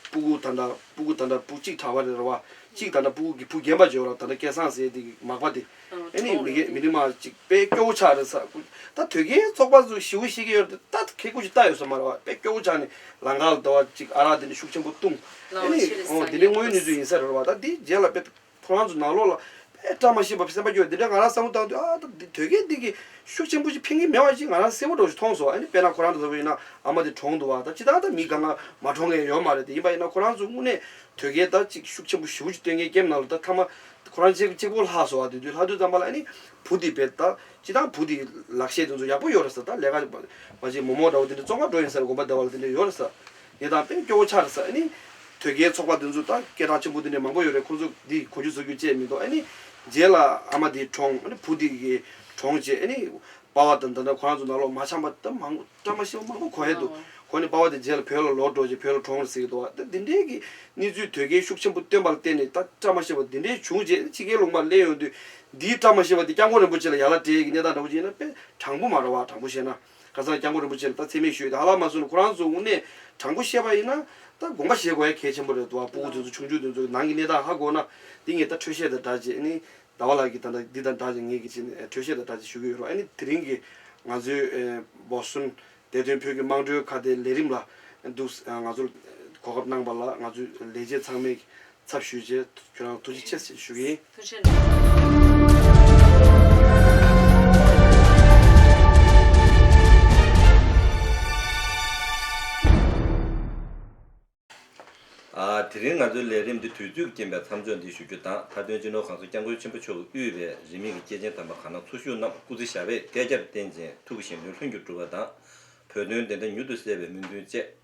Speaker 4: སྤུ་གུག་ད་འདྲ་སྤུ་གུག་ད་འདྲ་སྤུ་གཅིག་དྲ་བ་རེད་ར་བ་གཅིག་ད་འདྲ་སྤུ་གུག་གི་བུ་རྒན་པ་ཇོ་ར་ད་འདྲ་སྐལ་བཟང་ཟེར་འདི་མག་པ་འདི་ཨེ་ནི་མི་རྒན་མི་རིགས་མ་གཅིག་དཔལ་སྐྱོ་བོ་ཆགས་རེད་ས་ཀུ་ད་དོལ་རྒྱལ་ཚོགས་པ་ཚོ་ཞི་བོ་ཤེས་ཀྱི་ཡོད་རེད་ད་ཁེ་ཁུ་ཅིག་བཏགས་ཡོད་ས་མ་ར་བ་དཔལ་སྐྱོ་བོ་ཆགས་ནི་ལང་ཀ་ལ་འདོར་བ་གཅིག་ཨ་རག་འདི་འདྲ་ཤུགས་ཆེན་པོ་བཏུང་ཨེ་ནི་འོ་འདི་འདྲ་དངོས་ནུས་ཚོད་ཡིན་ས་རེད་ར་བ་ད་འདི་མཇལ་ལ་དཔལ། ཁོ་རང་ཚོ་ནང་ལོགས་ལ་དཔེ་བཀྲ་མ་ཤིས་པ་སེམས་པ་སྐྱོ་བས་འདི་འདྲ་ང་རང་བསམ་བློ་བཏང་དུས་ཨ་ད་འདི་དོལ་རྒྱལ་འདི་གིས་ཤུགས་ཆེན་པོ་ཞིག་འཕེན་གིན་མེད་བ་ཞིག་ང་རང་སེམས་བོར་འགྲོ་ཞིག་མཐོང་སོང་ཨ་ནི་དཔེ་ན་ཁོ་རང་ཚོ་ལྟ་བུ་ཡིན་ན་ཨ་མ་དེ་གྲོངས་འདུག་བ་ད་ཅི་ད་ད་མི་ག་ང་མ་གྲོངས་མཁན་ཡོད་མ་རེད་དེ་ཡིན་པ་ཡིན་ན་ཁོ་རང་ཚོ་དངོས་གནས་དོལ་རྒྱལ་ད་ཅིག་ཤུགས་ཆེན་པོ་ཞི་བོ་ཅིག་སྟོན་མཁན་སྐྱེ་མེད་ན་ལོ་ད་ཐ་མ་ཁོ་རང་གཅེས་གཅེས་ཁོ་ལྷག་སོང་བ་དེ་དུས་ལྷག་དུས་ཙམ་པ་ལ་ཨ་ནི་བུ་འདི་བས་ད་ཅི་ད་བུ་འདིས་ལག་ཤེས་དེ་ཚོ་ཡག་པོ་ཡོད་རེད་ས་ད་ལས་ཀ་མ་བྱེད་མོག་མོག་འདྲ་བོ་དེ་འདྲ་བཙོང་ཁ་འགྲོ་ཡིན་ས་རེད་དགོངས་པ་བདེ་བ་ལ་དེ་འདྲ་ཡོད་རེད་ས། དེ་དང་དེ་སྐྱོ་བོ་ཆགས་རེད་ས་ཨེ་ནི། དོལ་རྒྱལ་ཚོགས་པ་འདི་ཚོ་དང་སྐད་གྲགས་ཆེན་པོ་འདི་འདྲའི་མང་པོ་ཡོད་རེད་ཁོང་ཚོ་འདི་གོ་རྒྱུ་བཟོ་རྒྱུ་བཅས་མི་འདུག་ཨེ་ནི། རྗེས་ལ་ཨ་མ་འདིའི་གྲོངས་ཨེ་ནི་བུ་འདི་གི་གྲོངས་བཅས་ཨེ་ནི། དཔའ་བ་དང་འདི་འདྲ་ཁོ་རང་ཚོ་ནག་ལོག་མ་ཆམ་པ་དང་མང་བཀྲ་མ་ཤིས་པ་མང་པོ་གོ་ཧེ་འདུག་གོ་ནི་དཔའ་བ་དེ་རྗེས་ལ་བོད་ལ་ལོག་འགྲོ་རྗེས་བོད་ལ་གྲོངས་རེད་ཟེར་གྱི་འདུག་ཨ་ད་འདི་འདྲའི་གི་གནས་ཚུལ་དོལ་རྒྱལ་ཤུགས་ཆེན་པོ་བཏོན་པ་ལ་བརྟེན་ནས་ད་བཀྲ་མ་ཤིས་པ་འདི་འདྲའི་བྱུང་རྗེས་ཕྱི་རྒྱལ་ལུང་པར་གླན་ཡོང་དུས་འདིའི་བཀྲ་མ་ཤིས་པ་དེ་སྐྱབས་མགོན་རིན་པོ་ཆེ་ལ་ཡར་ལ་དྲས་ཀྱི་གནས་སྟངས་འདྲ་པོ་ཅིག་ཡིན་ན་དཔེ་དྲང་པོ་མ་རེད་བ་དྲང་པོ་བཤད་ན། ཁ་སང་སྐྱབས་མགོན་རིན་པོ་ཆེ་ལ་ད་ཚེ་མེད་ཞུས་ད་ལ་མ་གསོན་ན་ཁོ་རང་ཚོ་དབུ་མའི་དྲང་པོ་བཤད་པ་ཡིན་ན་ད་དགོངས་པ་བཞེས་དགོས་ཡ་གལ་ཆེན་པོ་རེད་འདུག་བ་སྤུ་གུ་དེ་ཚོ་ཆུང་ཆུང་དེ་ཚོ་ནང་གི་གནས་སྟངས་ཧ་གོ་ན་འདི་ངས་ད་འཕྲོས་བཤད་དང་སྦྲགས་ཅིག་ནི་ཟླ་བ་ལགས་ཀྱིས་ད་འདི་དང་སྦྲགས་ཅིག་ངས་ཀྱིས་ནི་འཕྲོས་བཤད་དང་སྦྲགས་ཅིག་ཞུ་གི་ཡོད་རོགས་ནི་དེ་རིང་གི་ང་ཚོའི་བོ་སོན་བདེ་དོན་བོད་ཀྱི་དམངས་ཁྲོད་ཁ་བརྡའི་ལས་རིམ་ལ་འདུག་ང་ཚོ་གོ་སྐབས་གནང་པ་ལ་ང་ཚོའི་ལས་བྱེད་ཚང་མས་ཚབ་ཞུས་རྗེས་ཁྱོད་རང་ཐུགས་རྗེ་ཆེ་ཞེས་ཞུ་གི་ཡིན།
Speaker 1: དེ་རིང་ང་ཚོའི་ལས་རིམ་འདི་དུས་ཚོད་ཀྱི་རྐྱེན་པས་མཚམས་འཇོག་འདི་ཞུ་རྒྱུ་དང་མཐའ་དོན་སྤྱི་ནོར་ཁང་སོགས་སྐྱབས་མགོན་ཆེན་པོ་མཆོག་གིས་དབུས་པའི་རིས་མེད་ཀྱི་སྐྱེས་ཆེན་དམ་པ་གང་ན་འཚོ་བཞུགས་རྣམས་སྐུ་ཚེ་ཞབས་པད་བསྐལ་བརྒྱར་བརྟན་ཅིང་ཐུགས་ཀྱི་ཞིང་དོན་ལྷུན་གྱིས་གྲུབ་པ་དང། བོད་དོན་བདེ་འདྲ་མྱུར་དུ་གསལ་བའི་སྨོན་འདུན་བཅས།